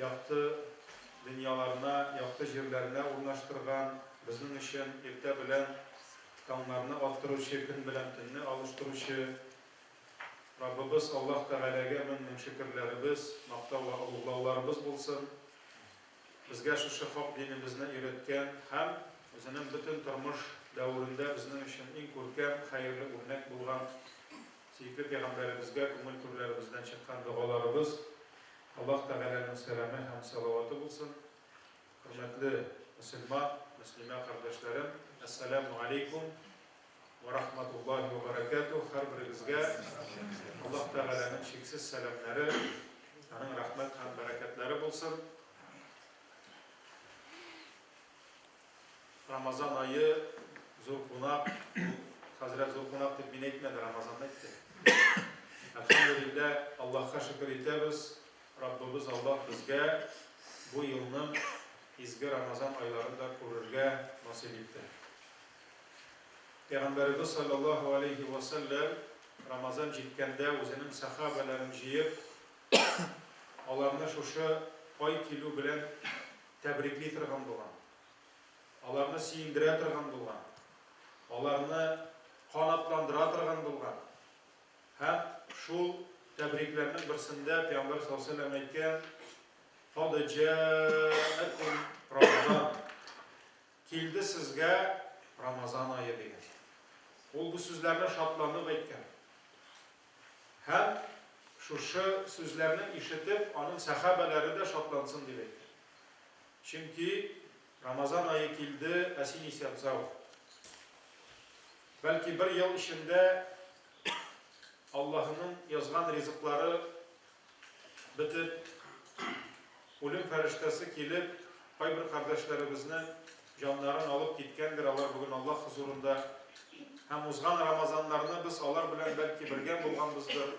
Якты дөньяларына, якты җирләренә урнаштырган, безнең өчен иртә белән таңнарны аттыручы, көн белән төнне алыштыручы Раббыбыз Аллаһ Тәгаләгә мең-мең шөкерләребез, мактау вә олуглауларыбыз булсын! Безгә шушы хак динебезне өйрәткән һәм үзенең бөтен тормыш дәверендә безнең өчен иң күркәм, хәерле үрнәк булган Сөекле Пәйгамбәребезгә күңел түрләребездән чыккан догаларыбыз, Аллаһ Тәгаләнең сәламе һәм салаваты булсын! Хөрмәтле мөселман, мөслимә кардәшләрем, Әссәләмү алейкум вә рахматуллаһи вә бәрәкәтүһ! Һәрберегезгә Аллаһ Тәгаләнең чиксез сәламнәре, Аның рәхмәт һәм бәрәкәтләре булсын! Рамазан айы зур кунак, хәзрәт зур кунак дип мин әйтмәде, Рамазан әйтте. Әлхәмдулиллә, Аллаһка шөкер итәбез, Раббыбыз Аллаһ безгә бу елның изге Рамазан айларын да күрергә насыйп итте. Пәйгамбәребез саллаллаһу алейхи ва саллям Рамазан җиткәндә үзенең сахабаларын җыеп, аларны шушы ай килү белән тәбрикли торган булган, аларны сөендерә торган булган, аларны канатландыра торган булган. Һәм шул тәбрикләрнең берсендә Пәйгамбәр саллаллаһу алейһи ва сәлләм әйткән: "Кад җаәкум Рамазан". Килде сезгә Рамазан ае дигән. Ул бу сүзләрне шатланып әйткән. һәм шушы сүзләрне ишетеп, аның сәхабәләре дә шатлансын дип әйтә. Чөнки Рамазан ае килде, ә син исә бзау. Бәлки бер ел эчендә Аллаһының язган ризыклары Бетеп, үлем фәрештәсе килеп, кайбер кардәшләребезне җаннарын алып киткәндер, алар бүген Аллаһ хозурында. Һәм узган Рамазаннарны без алар белән бәлки бергә булганбыздыр,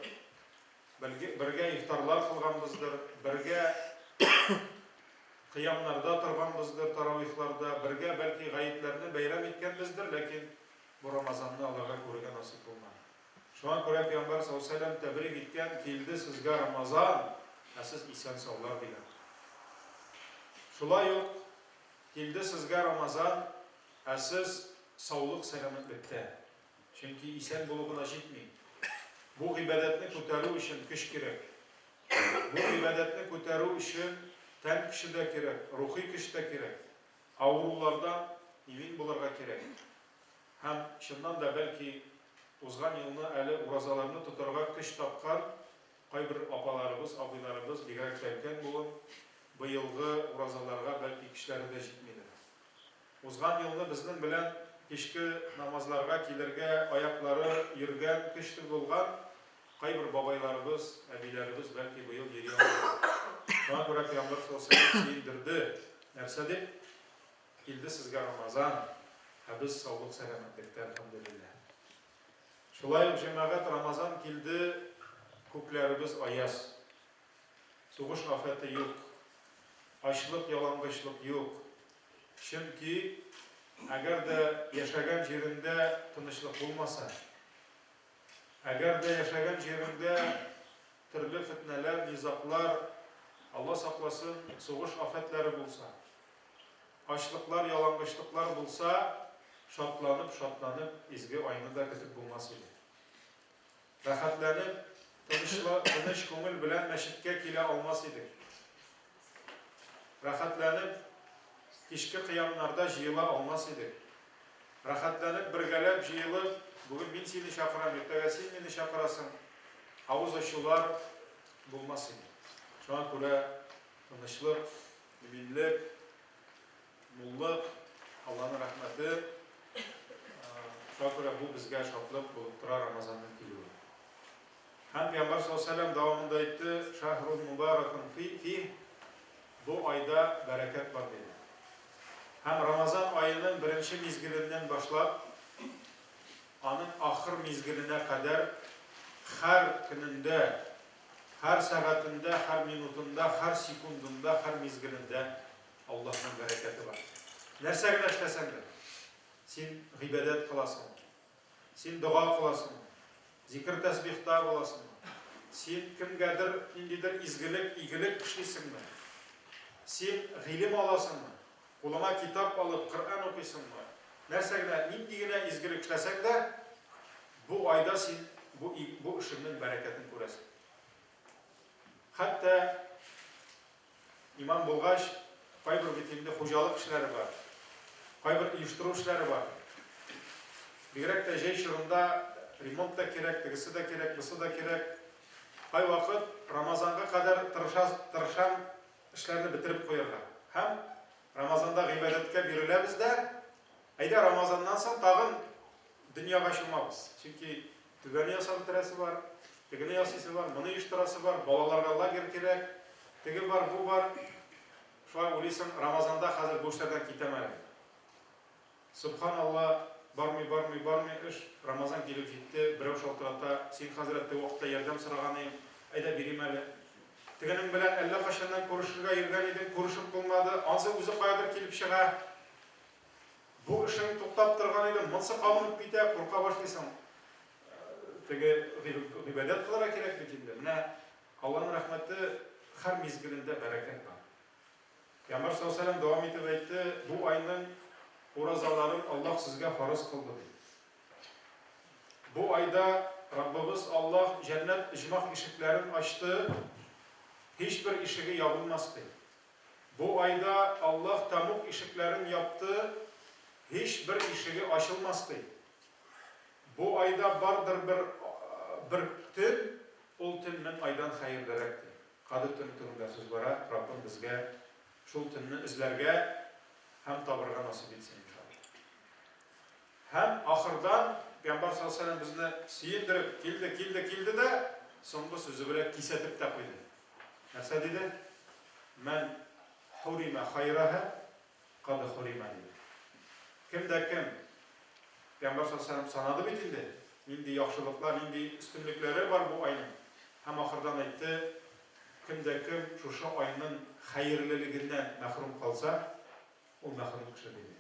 бергә ифтарлар кылганбыздыр, бергә кыямнарда торганбыздыр, таравихларда, бергә бәлки гаетләрне бәйрәм иткәнбездер, ләкин бу Рамазанны аларга күрергә насыйп булмады. Шуңа күрә пиамбар сау-сәлам тәбрик иткән, килде сезгә Рамазан, ә сез исән-саулар дигән. Шулай ук килде сезгә Рамазан, ә сез саулык-сәламәтлектә. Чөнки исән булу гына җитми. Бу гыйбадәтне күтәрү өчен көч кирәк. Бу гыйбадәтне күтәрү өчен тән көче дә кирәк, рухи көч тә кирәк. Авырулардан имин булырга кирәк. Һәм, чыннан да, бәлки, узган елны әле уразаларны тотарга көч тапкан кайбер апаларыбыз, абыйларыбыз, бигрәк тә өлкән буын, быелгы уразаларга, бәлки, көчләре дә җитмидер. Узган елны безнең белән кичке намазларга килергә аяклары йөргән, көчле булган кайбер бабайларыбыз, әбиләребез, бәлки, быел йөри алмыйдыр. Шуңа күрә пәйгамбәр саллаллаһу галәйһи ва сәлләм сөендерде, нәрсә дип? Килде сезгә Рамазан, ә без саулык-сәламәтлектә, Әлхәмдүлилләһ. Шулай ук, җәмәгать, Рамазан килде, күкләребез аяз. Сугыш афәте юк, ачлык, ялангычлык юк. Чөнки, әгәр дә яшәгән җиреңдә тынычлык булмаса, әгәр дә яшәгән җиреңдә төрле фетнәләр, низаглар, Алла сакласын, сугыш афәтләре булса, Ачлыклар, ялангычлыклар булса, шатланып-шатланып изге айны да көтеп булмас иде. Рәхәтләнеп, тынычлы, тыныч күңел белән мәчеткә килә алмас идек. Рәхәтләнеп, кичке кыямнарда җыела алмас идек. Рәхәтләнеп, бергәләп җыелып, бүген мин сине чакырам, иртәгә син мине чакырасың, авыз ачулар булмас иде. Шуңа күрә тынычлык, Иминлек, муллык, Алланың рәхмәте. Шуңа күрә бу безгә шатлык булып тора Рамазанның килүе. Һәм Пәйгамбәр саллаллаһу алейһи ва дәвамында әйтте, шәһрун мубаракун фи бу айда бәрәкәт бар диде. Һәм Рамазан аеның беренче мизгеленнән башлап, аның ахыр мизгеленә кадәр һәр көнендә Һәр сәгатендә, һәр минутында, һәр секундында, һәр мизгелендә Аллаһның бәрәкәте бар. Нәрсә генә эшләсәң дә, син гыйбадәт кыласың, син дога кыласың, зикр тәсбихта буласың, син кемгәдер ниндидер изгелек, игелек эшлисеңме, син гыйлем аласыңмы, Кулыңа китап алып, Коръән укыйсыңмы? Нәрсә генә, нинди генә изгелек эшләсәң дә, бу айда син бу и, бу эшеңнең бәрәкәтен күрәсең. Хәтта имам булгач, кайбер бит инде хуҗалык эшләре бар, кайбер оештыру эшләре бар. Бигрәк тә җәй чорында ремонт та кирәк, тегесе дә кирәк, бусы да кирәк. Кайвакыт Рамазанга кадәр тырышас, тырышам, Эшләрне бетереп куярга һәм Рамазанда гыйбадәткә биреләбез дә, әйдә Рамазаннан соң тагын дөньяга чумабыз. Чөнки түбәне ясап бетерәсе бар, тегене ясыйсы бар, моны оештырасы бар, балаларга лагерь кирәк, теге бар, бу бар. Шулай уйлыйсың, Рамазанда хәзер бу эшләрдән китәм әле. Сөбхан Алла, бармый, бармый, бармый эш, Рамазан килеп җитте, берәү шалтырата, син, хәзрәт, теге вакытта ярдәм сораган иең, әйдә, бирим әле. Тегенең белән әллә кайчаннан күрешергә йөргән идең, күрешеп булмады, ансы үзе каядыр килеп чыга. Бу эшең туктап торган иде, монсы кабынып китә, курка башлыйсың. Теге гыйбадәт кылырга кирәк бит инде. Менә Алланың рәхмәте, хәр мизгелендә бәрәкәт бар. Пәйгамбәр саллаллаһу галәйһи ва сәлләм дәвам итеп әйтте, Бу айның уразаларын Аллаһ сезгә фарыз кылды, ди. Бу айда Раббыбыз Аллаһ җәннәт оҗмах ишекләрен ачты, һичбер ишеге ябылмас, ди. Бу айда Аллаһ тәмуг ишекләрен япты, һичбер ишеге ачылмас, ди. Бу айда бардыр бер бер төн, ул төн мең айдан хәерлерәк, ди. Кадер төне турында сүз бара, Раббым безгә шул төнне эзләргә һәм табырга насыйп итсен, иншалла. Һәм ахырдан Пәйгамбәр саллаллаһу алейһи ва сәлләм безне сөендереп, килде, килде, килде дә, соңгы сүзе белән кисәтеп тә куйды. Нәрсә диде? Мән хурима хайраһа Кады Хурима ди. Кем дә кем. Пәйгамбәр саллаллаһу галәйһи ва сәлләм санады бит инде, нинди яхшылыклар, нинди өстенлекләре бар бу айның. Һәм ахырдан әйтте, Кем дә кем шушы айның хәерлелегеннән мәхрүм калса, ул мәхрүм кеше, диде.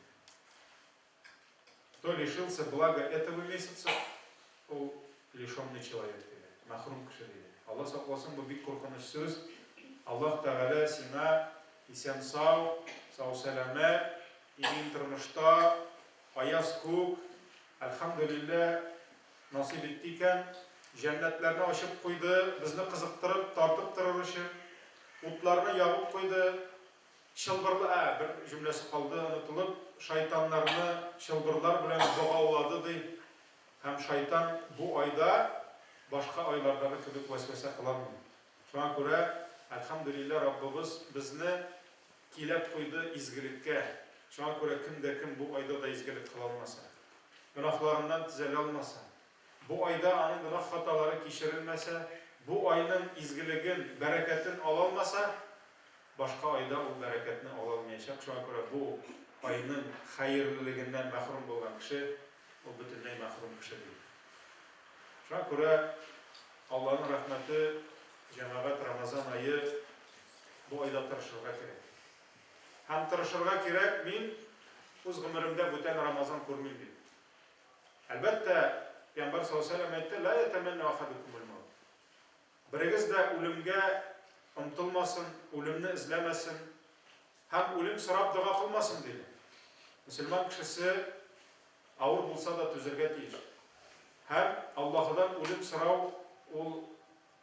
Кто лишился блага этого месяца, ул лишенный человек диде. Мәхрүм кеше диде. Алла сакласын, бу бик куркыныч сүз. Аллаһ Тәгалә сиңа исән-сау, сау-сәламәт, имин тормышта, аяз күк, әлхәмдүлиллә, насыйп итте икән, җәннәтләрне ачып куйды, безне кызыктырып, тартып торыр өчен, утларны ябып куйды, Чылбырлар, ә, бер җөмләсе калды, онытылып, шайтаннарны чылбырлар белән богаулады, ди. Һәм шайтан бу айда башка айлардагы кебек вәсвәсә кыламый. Шуңа күрә, әлхәмдүлилләһ, Раббыбыз безне иләп куйды изгелеккә. Шуңа күрә кем дә кем бу айда да изгелек кыла алмаса, гөнаһларыннан төзәлә алмаса, бу айда аның гөнаһ-хаталары кичерелмәсә, бу айның изгелеген, бәрәкәтен ала алмаса, Башка айда ул бәрәкәтне ала алмаячак, шуңа күрә бу айның хәерлелегеннән мәхрүм булган кеше, ул бөтенләй мәхрүм кеше түгел. Шуңа күрә Алланың рәхмәте, җәмәгать, Рамазан ае, бу айда тырышырга кирәк. Һәм тырышырга кирәк, мин үз гомеремдә бүтән Рамазан күрмим дип. Әлбәттә, Пәйгамбәр саллаллаһу галәйһи ва сәлләм әйтте, Лә ятәмәннәү ахадукумул мәүт. Берегез дә үлемгә омтылмасын, үлемне эзләмәсен һәм үлем сорап дога кылмасын, диде. Мөселман кешесе авыр булса да түзергә тиеш. Һәм Аллаһыдан үлем сорау ул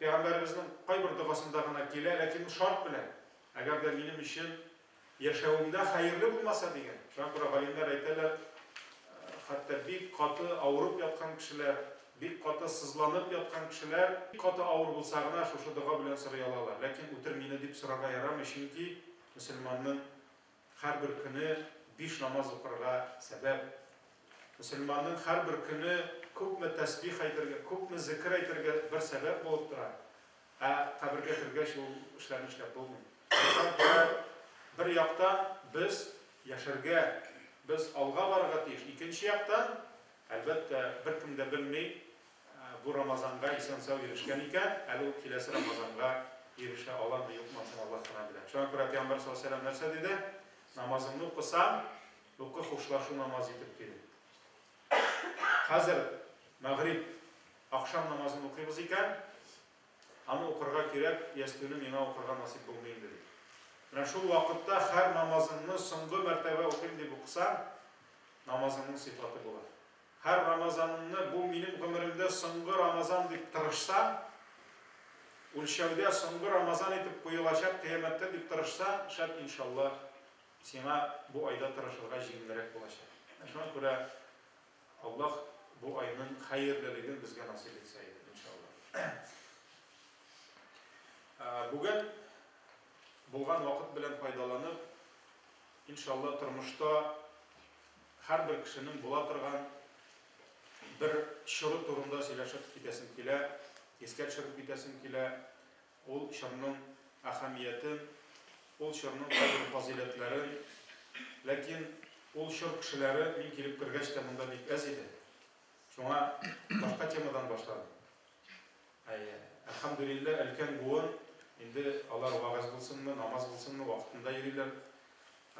Пәйгамбәребезнең кайбер догасында гына килә, ләкин ул шарт белән, әгәр дә минем өчен Яшәвемдә хәерле булмаса дигән. Шуңа күрә галимнәр әйтәләр, хәтта бик каты авырып яткан кешеләр, бик каты сызланып яткан кешеләр бик каты авыр булса гына шушы дога белән сорый алалар. Ләкин үтер мине дип сорарга ярамый, чөнки мөселманның һәрбер көне биш намаз укырга сәбәп. Мөселманның һәрбер көне күпме тәсбих әйтергә, күпме зекер әйтергә бер сәбәп булып тора. Ә кабергә кергәч ул эшләрне эшләп булмый. Бер яктан без яшәргә, без алга барырга тиеш. Икенче яктан, әлбәттә, беркем дә белми, бу Рамазанга исән-сау ирешкән икән, әле ул киләсе Рамазанга ирешә аламы, юкмы, ансын Аллаһ кына белә. Шуңа күрә Пәйгамбәр саллаллаһу галәйһи ва сәлләм нәрсә диде? Намазыңны укысаң, укы хушлашу намазы итеп, диде. Хәзер мәгъриб, ахшам намазын укыйбыз икән, аны укырга кирәк, ястүне миңа укырга насыйп булмый инде, ди. Менә шул вакытта һәр намазыңны соңгы мәртәбә укыйм дип укысаң, намазыңның сыйфаты була. Һәр рамазаныңны бу минем гомеремдә соңгы рамазан дип тырышсаң, үлчәүдә соңгы рамазан итеп куелачак кыямәттә дип тырышсаң, шәт, иншалла, Сиңа бу айда тырышырга җиңелрәк булачак. Менә шуңа күрә Аллаһ бу айның хәерлелеген безгә насыйп итсә иде, иншаллаһ. Бүген булган вакыт белән файдаланып, иншаллаһ, тормышта һәрбер кешенең була торган бер чоры турында сөйләшеп китәсем килә, искә төшереп китәсем килә. Ул чорның әһәмиятен, ул чорның кайбер фазыйләтләрен, ләкин ул чор кешеләре мин килеп кергәч тә монда бик әз иде. Шуңа башка темадан башладым. Әйе, әлхәмдүлилләһ, өлкән буын, инде алар вәгазь булсынмы, намаз булсынмы, вакытында йөриләр.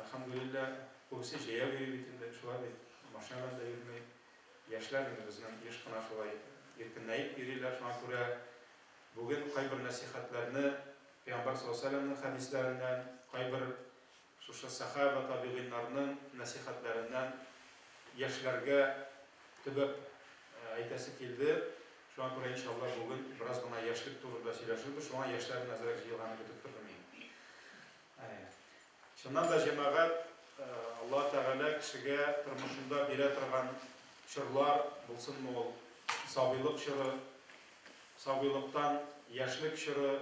Әлхәмдүлилләһ, күбесе җәяү йөри бит инде, шулай бит, машина белән дә йөрми. Яшьләр инде безнең еш кына шулай иркенләеп йөриләр, шуңа күрә Бүген кайбер нәсыйхәтләрне Пәйгамбәр саллаллаһу галәйһи ва сәлләмнең хәдисләреннән, кайбер шушы сәхабә, табигыйннарның нәсыйхәтләреннән яшьләргә төбәп әйтәсе килде. Шуңа күрә, иншаллаһ, бүген бераз гына яшьлек турында сөйләшербез. Шуңа яшьләр генә әзрәк җыелганны көтеп тордым мин. Әйе. Чыннан да, җәмәгать, Аллаһ Тәгалә кешегә тормышында бирә торган чорлар, булсынмы ул сабыйлык чоры, сабыйлыктан яшьлек чоры,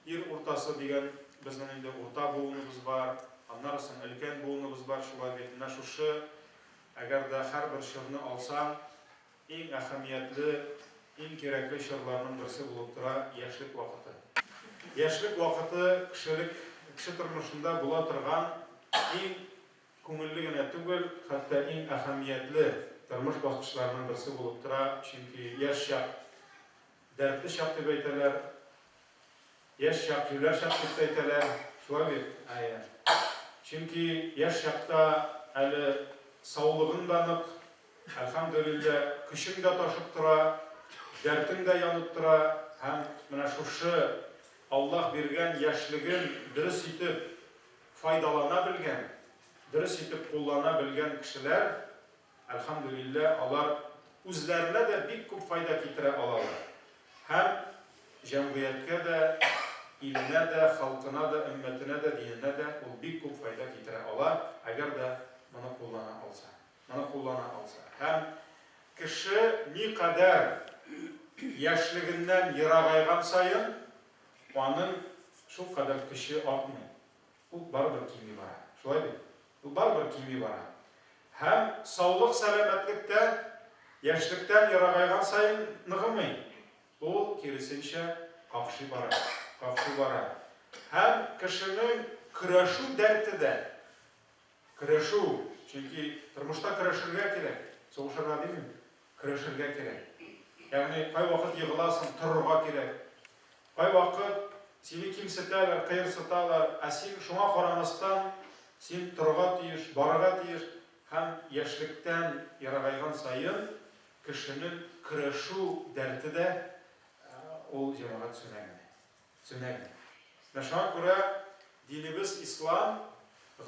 ир уртасы дигән безнең инде урта буыныбыз бар, аннары соң өлкән буыныбыз бар, шулай бит, менә шушы, әгәр дә һәрбер чорны алсаң, Иң әһәмиятле, иң кирәкле чорларның берсе булып тора яшьлек вакыты. Яшьлек вакыты кешелек, кеше тормышында була торган иң күңелле генә түгел, хәтта иң әһәмиятле тормыш баскычларының берсе булып тора, чөнки яшь чак, дәртле чак дип әйтәләр. Яшь чак, юләрчак дип тә әйтәләр, шулай бит? Әйе. Чөнки яшь чакта әле саулыгың да нык, әлхәмдүлилләһ, көчең дә ташып тора, дәртең дә янып тора һәм менә шушы Аллаһ биргән яшьлеген дөрес итеп файдалана белгән, дөрес итеп куллана белгән кешеләр Әлхәмдүлилләһ, алар үзләренә дә бик күп файда китерә алалар һәм җәмгыятькә дә, иленә дә, халкына да, өммәтенә дә, диненә дә ул бик күп файда китерә ала, әгәр дә моны куллана алса. Моны куллана алса. Һәм кеше никадәр яшьлегеннән ерагайган саен, аның шулкадәр көче артмый. Ук барыбер кими бара. Шулай бит? Ул барыбер кими бара. Һәм саулык-сәламәтлек тә яшьлектән ерагайган саен ныгымый. Ул, киресенчә, какшый бара, какшый бара. Һәм кешенең көрәшү дәрте дә, көрәшү, чөнки тормышта көрәшергә кирәк, сугышырга димим. Көрәшергә кирәк. Ягъни кайвакыт егыласың, торырга кирәк. Кайвакыт сине кимсетәләр, кыерсыталар, ә син шуңа карамастан, син торырга тиеш, барырга тиеш. Һәм яшьлектән ерагайган саен кешенең көрәшү дәрте дә, ул җәмәгать сүнә генә. Төнәли. Менә шуңа күрә динебез ислам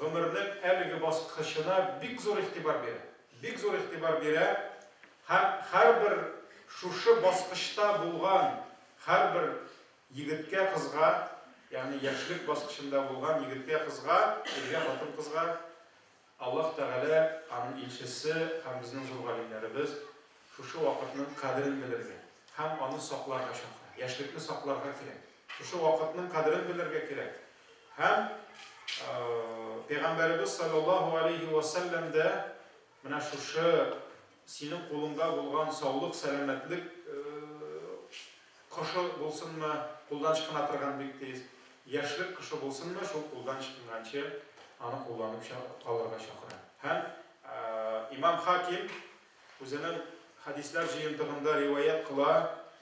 гомернең әлеге баскычына бик зур игътибар бирә. Бик зур игътибар бирә һәм һәрбер шушы баскычта булган һәрбер егеткә, кызга, ягъни яшьлек баскычында булган егеткә, кызга, иргә, хатын-кызга, Аллаһ Тәгалә, Аның илчесе һәм безнең зур галимнәребез шушы вакытның кадерен белергә һәм аны сакларга чакыра. Яшьлекне сакларга кирәк. Шушы вакытның кадерен белергә кирәк. Һәм Пәйгамбәребез салләллаһу галәйһи вә сәлләм дә менә шушы Синең кулыңда булган саулык-сәламәтлек кошы булсынмы, кулдан чкына торган бик тиз, яшьлек кошы булсынмы, шул кулдан чкнганчы аны кулланып калырга чакыра. Һәм Имам Хаким үзенең хәдисләр җыентыгында риваять кыла,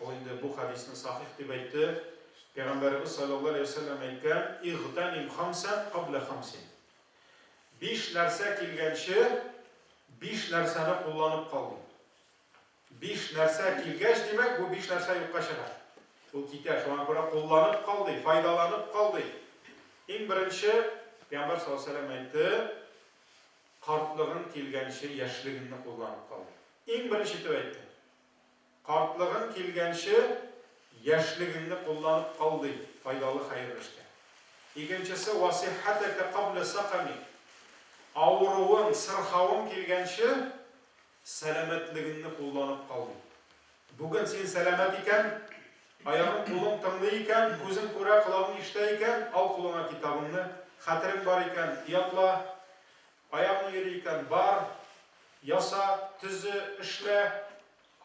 ул инде бу хәдисне сахих дип әйтте, Пәйгамбәребез салләллаһу галәйһи ва сәлләм әйткән, Игътәним хамсан кабля хамсин. Биш нәрсә килгәнче биш нәрсәне кулланып кал, ди. Биш нәрсә килгәч, димәк, бу биш нәрсә юкка чыга. Ул китә. Шуңа күрә кулланып кал, ди, файдаланып кал, ди. Иң беренче, Пәйгамбәр саллаллаһу алейһи ва сәлләм әйтте, Картлыгың килгәнче яшьлегеңне кулланып кал, ди. Иң беренче итеп әйтте. Картлыгың килгәнче яшьлегеңне кулланып кал, ди, файдалы хәерле эшкә. Икенчесе, Вә сиххәтәкә кабля сәкамик. Авыруың, сырхавың килгәнче сәламәтлегеңне кулланып кал, ди. Бүген син сәламәт икән, аягың-кулың тыңлый икән, күзең күрә, колагың ишетә икән, ал кулыңа китабыңны, хәтерең бар икән, ятла. Аягың йөри икән, бар, яса, төзе, эшлә.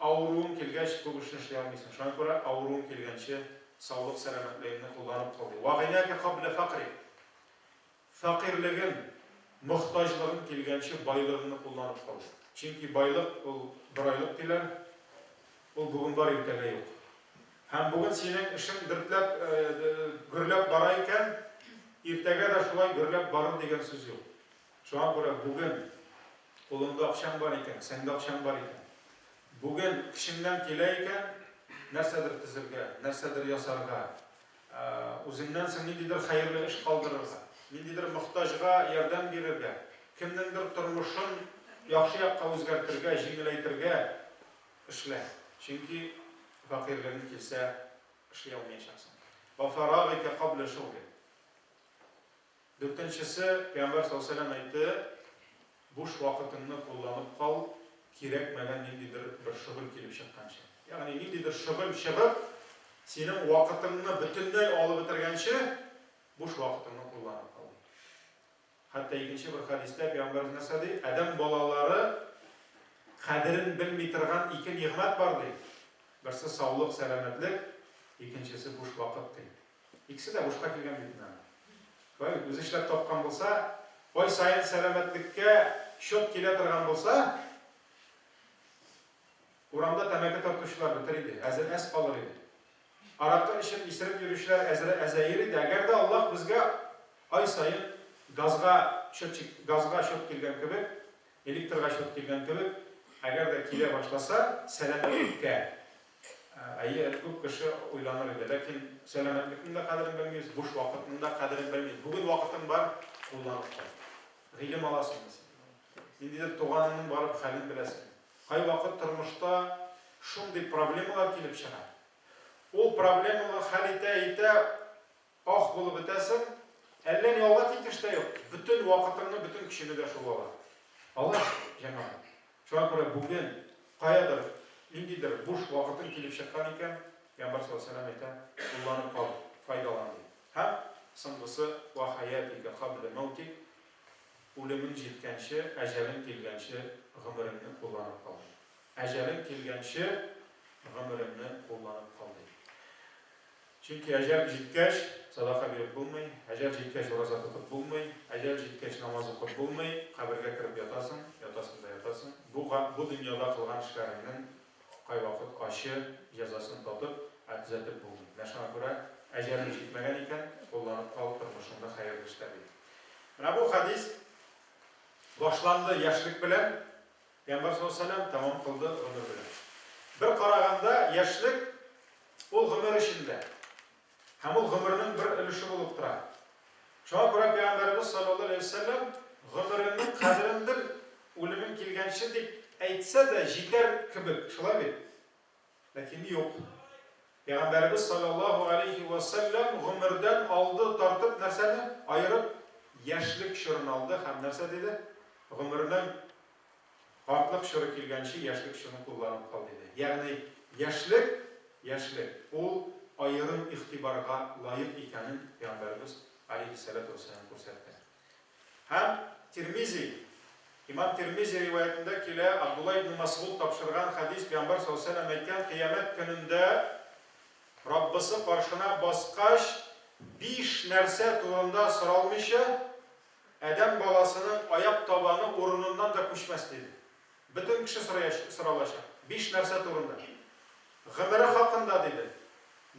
Авыруың килгәч, күп эшне эшли алмыйсың. Шуңа күрә авыруың килгәнче саулык-сәламәтлегеңне кулланып кал, ди. Ва гинәкә кабля фәкърик. Фәкыйрьлегең, мохтаҗлыгың килгәнче байлыгыңны кулланып кал, ди. Чөнки байлык, ул бер айлык, диләр. Ул бүген бар, иртәгә юк. Һәм бүген синең эшең дөпләп, гөрләп бара икән, иртәгә дә шулай гөрләп барыр дигән сүз юк. Шуңа күрә бүген кулыңда акчаң бар икән, кесәңдә акчаң бар икән, бүген көчеңнән килә икән, нәрсәдер төзергә, нәрсәдер ясарга, үзеңнән соң ниндидер хәерле эш калдырырга, ниндидер мохтаҗга ярдәм бирергә, кемнеңдер тормышын яхшы якка үзгәртергә, җиңеләйтергә, Эшлә, чөнки фәкыйрьлегең килсә, эшли алмаячаксың. Ва фарагыйкә кабля шугылик. Дүртенчесе, Пәйгамбәр саллаллаһу галәйһи ва сәлләм әйтте, Буш вакытыңны кулланып кал, кирәкмәгән ниндидер бер шөгыль килеп чыкканчы. Ягъни ниндидер шөгыль чыгып, синең вакытыңны бөтенләй алып бетергәнче, буш вакытыңны кулланып кал. Хәтта икенче бер хәдистә пәйгамбәребез нәрсә ди? Адәм балалары кадерен белми торган ике нигъмәт бар ди. Берсе саулык, сәламәтлек, икенчесе буш вакыт ди. Икесе дә бушка килгән бит менә. Шулай үзе эшләп тапкан булса, ай саен сәламәтлеккә счет килә торган булса, Урамда тәмәке тартучылар бетер иде, әзер әз калыр иде. Аракы эчеп, исереп йөрүчеләр әзер әзәер иде, әгәр дә Аллаһ безгә ай саен газга счетчик, газга счет килгән кебек, электрга счет килгән кебек, әгәр дә килә башласа, сәламәтлеккә, әйе, күп кеше уйланыр иде. Ләкин сәламәтлекнең дә кадерен белмибез, буш вакытның да кадерен белмибез. Бүген вакытың бар, кулланып кайт. Гыйлем аласыңмы син? Ниндидер туганыңның барып хәлен беләсеңме? Кайвакыт тормышта шундый проблемалар килеп чыга, ул проблеманы хәл итә-итә ах булып бетәсең, әллә ни алга киткеч тә юк, бөтен вакытыңны, бөтен көчеңне дә шул ала. Алай бит, җәмәгать? Шуңа күрә бүген каядыр ниндидер буш вакытың килеп чыккан икән, пәйгамбәр саллаллаһу галәйһи ва сәлләм әйтә, кулланып кал, файдалан, ди. Һәм соңгысы, вә хәятика кабля мәүтик, Үлемең җиткәнче, әҗәлең килгәнче гомереңне кулланып кал. Әҗәлең килгәнче гомереңне кулланып кал, ди. Чөнки әҗәл җиткәч, садака биреп булмый, әҗәл җиткәч, ураза тотып булмый, әҗәл җиткәч, намаз укып булмый, кабергә кереп ятасың, ятасың да ятасың. Бу, бу дөньяда кылган эшләреңнең кайвакыт ачы җәзасын татып, ә төзәтеп булмый. Менә шуңа күрә, әҗәлең җитмәгән икән, кулланып кал, тормышыңны хәерле эшлә, ди. Менә бу хәдис башланды яшьлек белән, Пәйгамбәр саллаллаһу алейһи ва сәлләм тәмам кылды гомер белән. Бер караганда, яшьлек ул гомер эчендә. Һәм ул гомернең бер өлеше булып тора. Шуңа күрә Пәйгамбәрбез саллаллаһу алейһи ва сәлләм гомереңнең кадерен бел, үлемең килгәнче дип әйтсә дә җитәр кебек, шулай бит? Ләкин юк. Пәйгамбәребез салләллаһу галәйһи вә сәлләм гомердән алды тартып нәрсәне аерып, яшьлек чорын алды һәм нәрсә диде? Гомернең картлык чоры килгәнче яшьлек чорын кулланып кал, диде. Ягъни яшьлек, яшьлек, ул аерым игътибарга лаек икәнен Пәйгамбәребез галәйһиссәләтү вәссәлам күрсәтте. Һәм Тирмизи, имам Тирмизи риваятендә килә, Абдулла ибне Масгуд тапшырган хәдис, пәйгамбәр салләһу галәйһи ва сәлләм әйткән, кыямәт көнендә Раббысы каршына баскач, биш нәрсә турында соралмыйча, адәм баласының аяк табаны урыныннан да күчмәс, диде. Бөтен кеше сораячак, соралачак. Биш нәрсә турында? Гомере хакында, диде.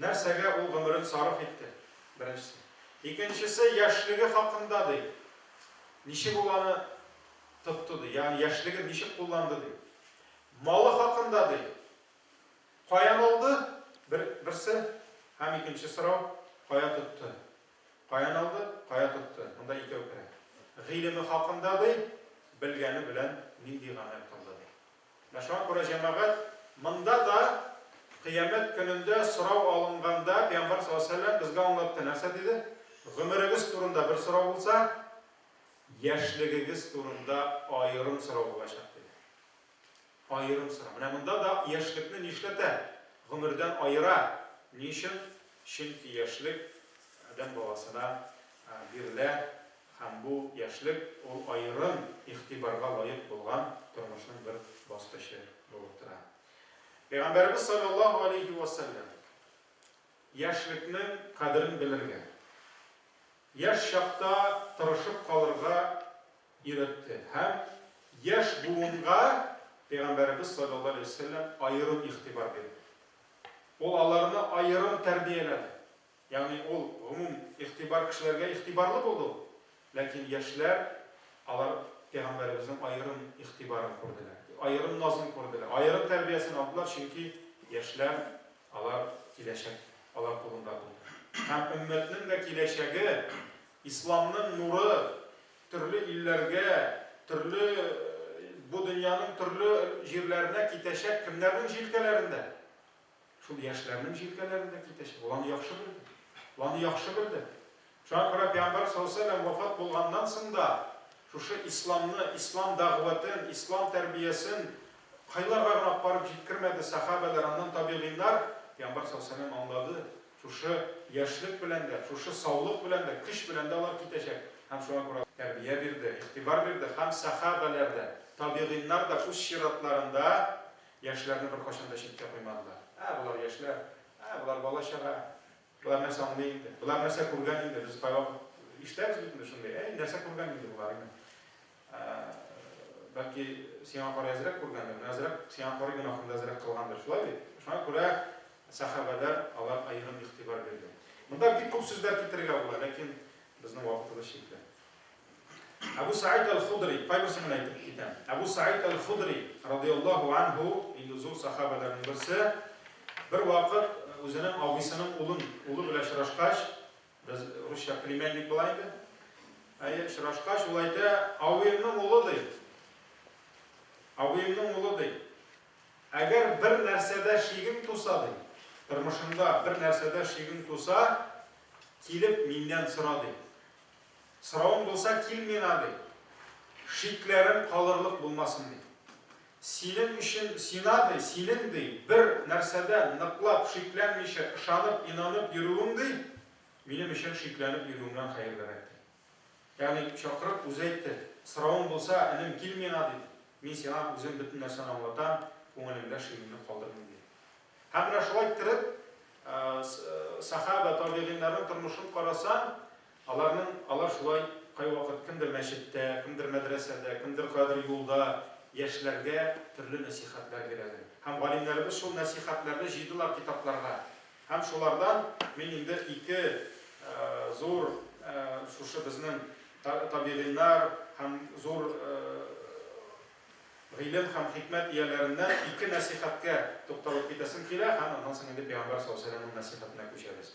Нәрсәгә ул гомерен сарыф итте? Беренчесе. Икенчесе, яшьлеге хакында, ди. Ничек ул аны тотты, ди. Ягъни яшьлеген ничек кулланды, ди. Малы хакында, ди. Каян алды? Бер, берсе. Һәм икенче сорау, кая тотты? Каян алды, кая тотты, монда икәү керә. Гыйлеме хакында, ди, белгәне белән нинди гамәл кылды, ди. Менә шуңа күрә, җәмәгать, монда да Кыямәт көнендә сорау алынганда, Пәйгамбәр саллаллаһу алейһи ва сәлләм безгә аңлатты, нәрсә диде? Гомерегез турында бер сорау булса, яшьлегегез турында аерым сорау булачак, диде. Аерым сорау. Менә монда да яшьлекне нишләтә? Гомердән аера. Ни өчен? Чөнки яшьлек адәм баласына бирелә һәм бу яшьлек ул аерым игътибарга лаек булган тормышның бер баскычы булып тора. Пәйгамбәребез салләллаһу галәйһи вә сәлләм яшьлекнең кадерен белергә, яшь чакта тырышып калырга өйрәтте һәм яшь буынга Пәйгамбәребез салләллаһу галәйһи вә сәлләм аерым игътибар бирде. Ул аларны аерым тәрбияләде. Ягъни ул гомум игътибар кешеләргә игътибарлы булды ул. Ләкин яшьләр, алар Пәйгамбәребезнең аерым игътибарын күрделәр, аерым назын күрделәр, аерым тәрбиясен алдылар, чөнки яшьләр, алар киләчәк, алар кулында булды. Һәм өммәтнең дә киләчәге, исламның нуры, Төрле илләргә, төрле бу дөньяның төрле җирләренә китәчәк кемнәрнең җилкәләрендә? Шул яшьләрнең җилкәләрендә китәчәк. Ул аны яхшы белде. Ул аны яхшы белде. Шуңа күрә Пәйгамбәр саллаллаһу вафат булганнан соң да шушы исламны, ислам дәгъватын, ислам тәрбиясен кайларга гына апарып җиткермәде сәхабәләр, аннан табигыйннар, Пәйгамбәр саллаллаһу аңлады, Шушы яшьлек белән дә, шушы саулык белән дә, көч белән дә алар китәчәк. Һәм шуңа күрә тәрбия бирде, игътибар бирде һәм сәхабәләр дә, табигыйннар да үз чиратларында яшьләрне беркайчан да читкә куймадылар. Ә, болар яшьләр, ә, болар бала-чага, болар нәрсә аңлый инде, болар нәрсә күргән инде, без кайвакыт ишетәбез бит инде шундый, әй, нәрсә күргән инде болар, имеш. Бәлки сиңа карый әзрәк күргәндер, менә әзрәк сиңа карый гөнаһында әзрәк кылгандыр, шулай бит? Шуңа күрә сәхабәләр алар аерым игътибар бирде. Монда бик күп сүзләр китерергә була, ләкин безнең вакытыбыз чикле. Абу Саид аль-Худри, кайберсен генә әйтеп китәм. Абу Саид аль-Худри радиаллаһу анһу, инде зур сахабәләрнең берсе, бер вакыт үзенең абыйсының улын, улы белән очрашкач, Без русча племянник була инде. Әйе, очрашкач, ул әйтә, абыемның улы ди. Абыемның улы ди. Әгәр бер нәрсәдә шигең туса ди, тормышыңда бер нәрсәдә шигең туса, килеп миннән сора ди. Соравың булса, кил миңа ди. Шикләрем калырлык булмасын ди. Синең өчен сина, ди, синең, ди, бер нәрсәдә ныклап, шикләнмичә, ышанып, инанып йөрүең, ди, минем өчен шикләнеп йөрүеңнән хәерлерәк, ди. Ягъни, чакырып, үзе әйтте. Соравың булса, энем, кил миңа, ди, мин сиңа үзем бөтен нәрсәне аңлатам, күңелеңдә шиңеллек калдырмыйм, ди. Һәм менә шулай иттереп, сәхабә, табигыйньнәрнең тормышын карасаң, Аларның, алар шулай кайвакыт кемдер мәчеттә, кемдер мәдрәсәдә, кемдер каядыр юлда яшьләргә төрле нәсыйхәтләр бирәләр. Һәм галимнәребез шул нәсыйхәтләрне җыйдылар китапларга. Һәм шулардан мин инде ике зур шушы безнең табигыйнар һәм зур гыйлем һәм хикмәт ияләреннән ике нәсыйхәткә тукталып китәсем килә һәм аннан соң инде Пәйгамбәр саллаллаһу галәйһи ва сәлләмнең нәсыйхәтенә күчәбез.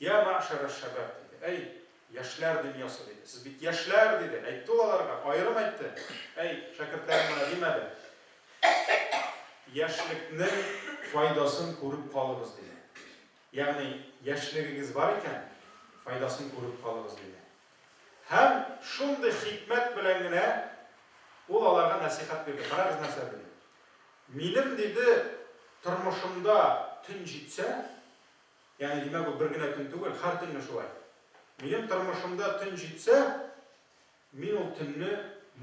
Йә мәгшәр әш-шәбаб, диде. Әй, яшьләр дөньясы, диде. Сез бит яшьләр, диде. Әйтте ул аларга, аерым әйтте. Әй, шәкертләрем генә димәде. Яшьлекнең файдасын күреп калыгыз, диде. Ягъни, яшьлегегез бар икән, файдасын күреп калыгыз, диде. Һәм шундый хикмәт белән генә ул аларга нәсыйхәт бирде. Карагыз нәрсә диде. Минем, диде, тормышымда төн җитсә, Ягъни, димәк, ул бер генә төн түгел, һәр төнне шулай. Минем тормышымда төн җитсә, мин ул төнне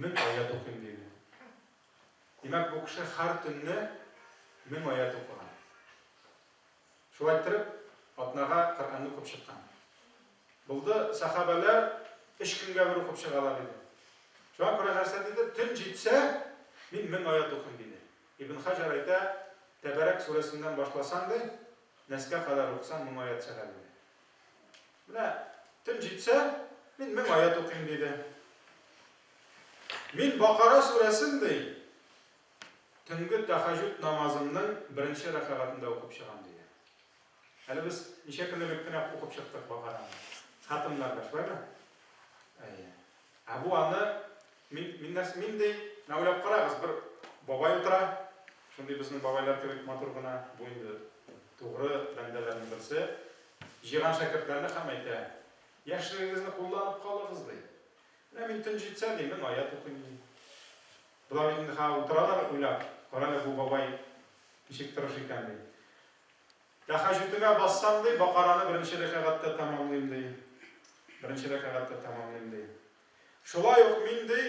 мең аят укыйм, диде. Димәк, бу кеше һәр төнне мең аят укыган. Шулай торып, атнага Коръәнне укып чыккан. Булды, сәхабәләр өч көнгә бер укып чыгалар иде. Шуңа күрә нәрсә диде? Төн җитсә, мин мең аят укыйм, диде. Ибн Хаҗар әйтә, Тәбәрәк сүрәсеннән башласаң, ди, Нәскә кадәр укысаң, мең аять шәһәр буе. Менә төн җитсә, мин мең аять укыйм, диде. Мин Бакара сүрәсен, ди, төнге тәхәҗүд намазымның беренче рәкәгатендә укып чыгам, диде. Әле без ничә көн элек кенә укып чыктык Бакараны. Хатымнар да шулаймы? Әйе. Ә бу аны мин, мин нәрсә, мин ди, менә уйлап карагыз, бер бабай утыра, шундый безнең бабайлар кебек матур гына, бу инде тугры бәндәләрнең берсе, җыйган шәкертләрне һәм әйтә, яшьлегегезне кулланып калыгыз, ди. Менә мин төн җитсә, ди, мең аят укыйм, ди. Болар инде һәм утыралар уйлап, кара әле бу бабай ничек тырыш икән, ди. Тәһәҗүтемә бассам, ди, Бакараны беренче рәкәгатьтә тәмамлыйм, ди. Беренче рәкәгатьтә тәмамлыйм, ди. Шулай ук мин, ди,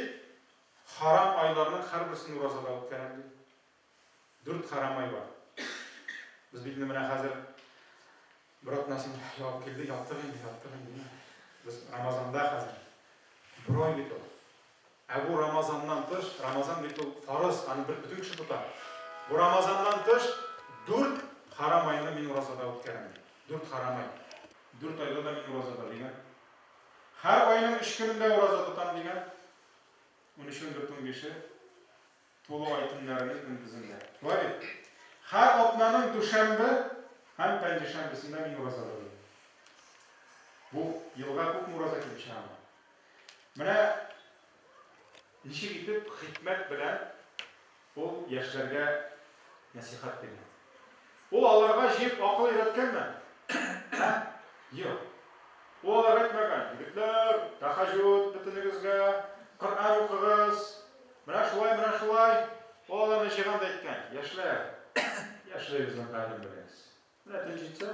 хәрам айларның һәрберсен уразада үткәрәм, ди. Дүрт хәрам ай бар. Без бит инде менә хәзер бер атнасын ябып килдек, яттык инде, яттык инде. Без Рамазанда хәзер. Бер ай бит ул. Ә бу Рамазаннан тыш, Рамазан бит ул фарыз, аны бер бөтен кеше тота. Бу Рамазаннан тыш дүрт харам айны мин уразада үткәрәм, ди. Дүрт харам ай. Дүрт айда да мин уразада, дигән. Һәр айның өч көнендә ураза тотам, дигән. Унөчен, дүртен, бише. Тулы ай төннәренең көндезендә. Шулай бит? Һәр атнаның дүшәмбе һәм пәнҗешәмбесендә мин ураза тотыйм. Бу елга күпме ураза килеп чыгамы? Менә ничек итеп хикмәт белән ул яшьләргә нәсыйхәт бирә. Ул аларга җыеп акыл өйрәткәнме? Ә? Юк. Ул аларга әйтмәгән, Егетләр, тәхәҗүд бөтенегезгә, Коръән укыгыз. Менә шулай, менә шулай. Ул аларны җыйган да әйткән, Яшьләр, яшьлегезнең кадерен белегез. Менә төн җитсә,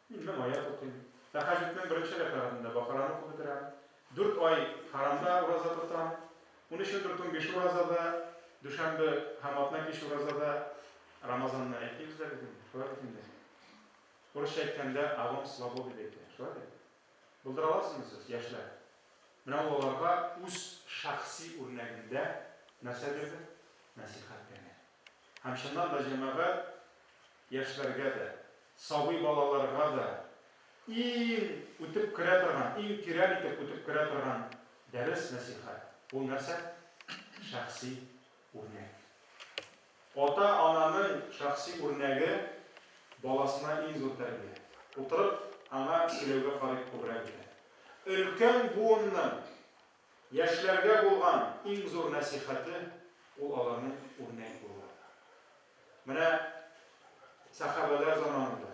Инде мая тотыйм. Тәһаҗҗүднең беренче рәкәгатендә Бакараны укып бетерәм. Дүрт ай хәрамда ураза тотам. Унөчендер төн биш уразада, дүшәмбе һәм атна кич уразада. Рамазанны әйтмибез дә бит инде, шулай бит инде. Урысча әйткәндә, Авом слабо дип әйтә, шулай бит? Булдыра аласызмы сез, яшьләр? Менә ул аларга үз шәхси үрнәгендә нәрсә бирде? Нәсыйхәт бирде. Һәм чыннан да җәмәгать яшьләргә дә, сабый балаларга да иң үтеп керә торган, иң тирән итеп үтеп керә торган дәрес-нәсыйхәт. Ул нәрсә? Шәхси үрнәк. Ата-ананың шәхси үрнәге баласына иң зур тәрбия. Утырып, аңа сөйләүгә карый күбрәк итә. Өлкән буынның. Яшьләргә булган иң зур нәсыйхәте, ул аларның үрнәк булулары. Менә сәхабәләр заманында,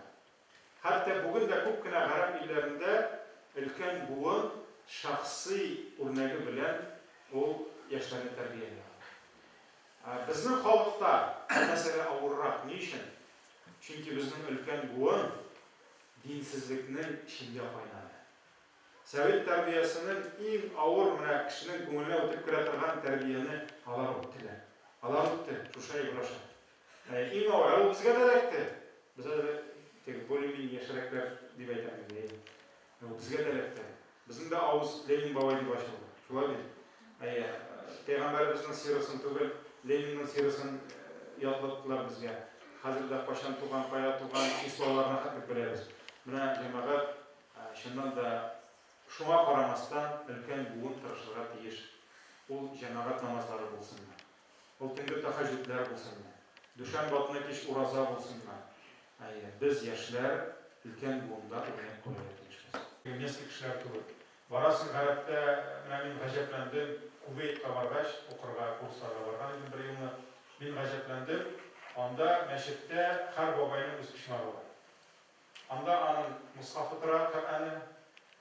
хәтта бүген дә күп кенә гарәп илләрендә өлкән буын шәхси үрнәге белән ул яшьләрне тәрбияли ала. Ә безнең халыкта бу мәсьәлә авыррак. Ни өчен? Чөнки безнең өлкән буын динсезлекнең эчендә кайнады. Сәвит тәрбиясенең иң авыр менә кешенең күңеленә үтеп керә торган тәрбияне алар үттеләр. Алар үтте, Шуша Ибраша. Ә иң авыр, ә ул безгә дә эләкте. Без әле теге более-менее яшьрәкләр дип әйтәм инде, әйе. Ә ул безгә дә эләкте. Безнең дә авыз Ленин бабай дип ачылды. Шулай бит? Әйе. Пәйгамбәребезнең сирасын түгел, Ленинның сирасын ятлаттылар безгә. Хәзер дә кайчан туган, кая туган, числоларына хәтлек беләбез. Менә җәмәгать Чыннан да, шуңа карамастан, өлкән буын тырышырга тиеш. Ул җәмәгать намазлары булсынмы, ул төнге тәһәҗҗүдләр булсынмы, дүшәмбе атна кич ураза булсынмы, әйе, без, яшьләр, өлкән буында үрнәк куярга тиешбез. Немецкий кешеләр кебек. Барасың, гарәптә, менә мин гаҗәпләндем, Кувейтка баргач, укырга, курсларга барган идем бер елны, мин гаҗәпләндем, анда мәчеттә һәр бабайның үз почмагы бар. Анда аның мосхафы тора, Коръәне,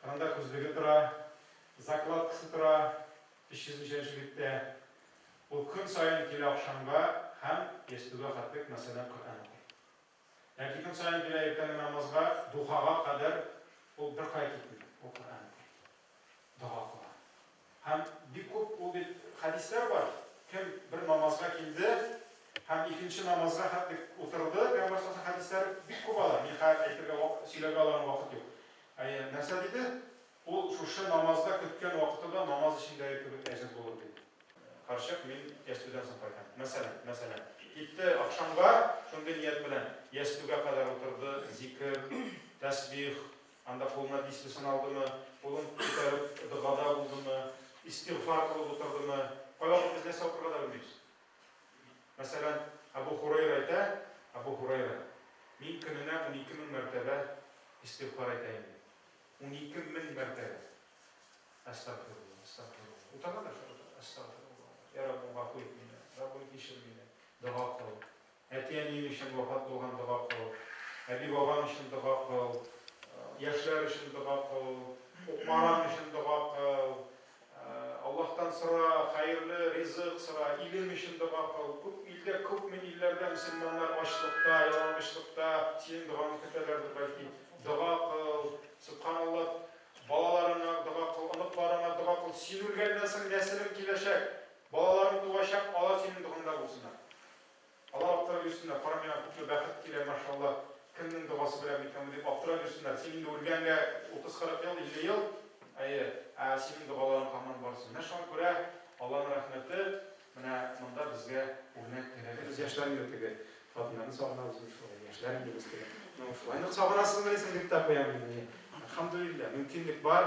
кырында күзлеге тора, закладкасы тора, 300 нче биттә. Ул көн саен килә ахшамга һәм ястүгә хәтлек мәсәлән Коръән укый. Яки көн саен килә иртәнге намазга, духага кадәр ул беркая китми, ул Коръән укый. дога кыла. Һәм бик күп ул бит хәдисләр бар, кем бер намазга килде һәм икенче намазга хәтле утырды, Пәйгамбәр саллаллаһу алейһи ва сәлләм хәдисләре бик күп алар, мин хәзер әйтергә вак, сөйләргә аларны вакыт юк. Әйе, нәрсә диде? Ул шушы намазда көткән вакытында намаз эчендәге кебек әҗер булыр диде. Карчык, мин ястүдән соң кайтам. Мәсәлән, мәсәлән. Китте ахшамга, шундый ният белән, ястүгә кадәр утырды, зикер, тәсбих, Анда кулына дисбесын алдымы, кулын күтәреп догада булдымы, истигъфар кылып утырдымы, кайвакыт без нәрсә укырга да белмибез. Мәсәлән, Әбү Хурайра әйтә, Әбү Хурайра, Мин көненә унике мең мәртәбә истигъфар әйтә идем. Унике мең мәртәбә. Әстәгъфирулла, әстәгъфирулла. Утырган да шул, әстәгъфирулла. Йә Раббым, гафу ит мине, Раббым, кичер мине. Дога кыл. Әти-әниең өчен вафат булган дога кыл, әби-бабаң өчен дога кыл, яшьләр өчен дога кыл, укмараң өчен дога кыл, Аллаһтан сора, хәерле ризык сора, илең өчен дога кыл. Күп илдә, күпме илләрдә мөселманнар ачлыкта, ялангачлыкта, синең догаңны көтәләрдер, бәлки. Дога кыл, сөбханаллаһ, балаларыңа дога кыл, оныкларыңа дога кыл. Син үлгәннән соң нәселең киләчәк, балаларың туачак, алар синең догаңда булсыннар. Алар аптырап йөрсеннәр, кара миңа күпме бәхет килә, машаллаһ, кемнең догасы белән микәнбу дип аптырап йөрсеннәр, син инде үлгәнгә утыз-кырык ел, илле ел, әйе, ә синең догаларың һаман бар син. Менә шуңа күрә Алланың рәхмәте менә монда безгә үрнәк кирәге без яшьләр инде теге хатыннарны сагынабыз бит шулай, яшьләр инде без теге. Ну шулай нык сагынасызмыни соң дип тә куям инде. Әлхәмдүлилләһ, мөмкинлек бар,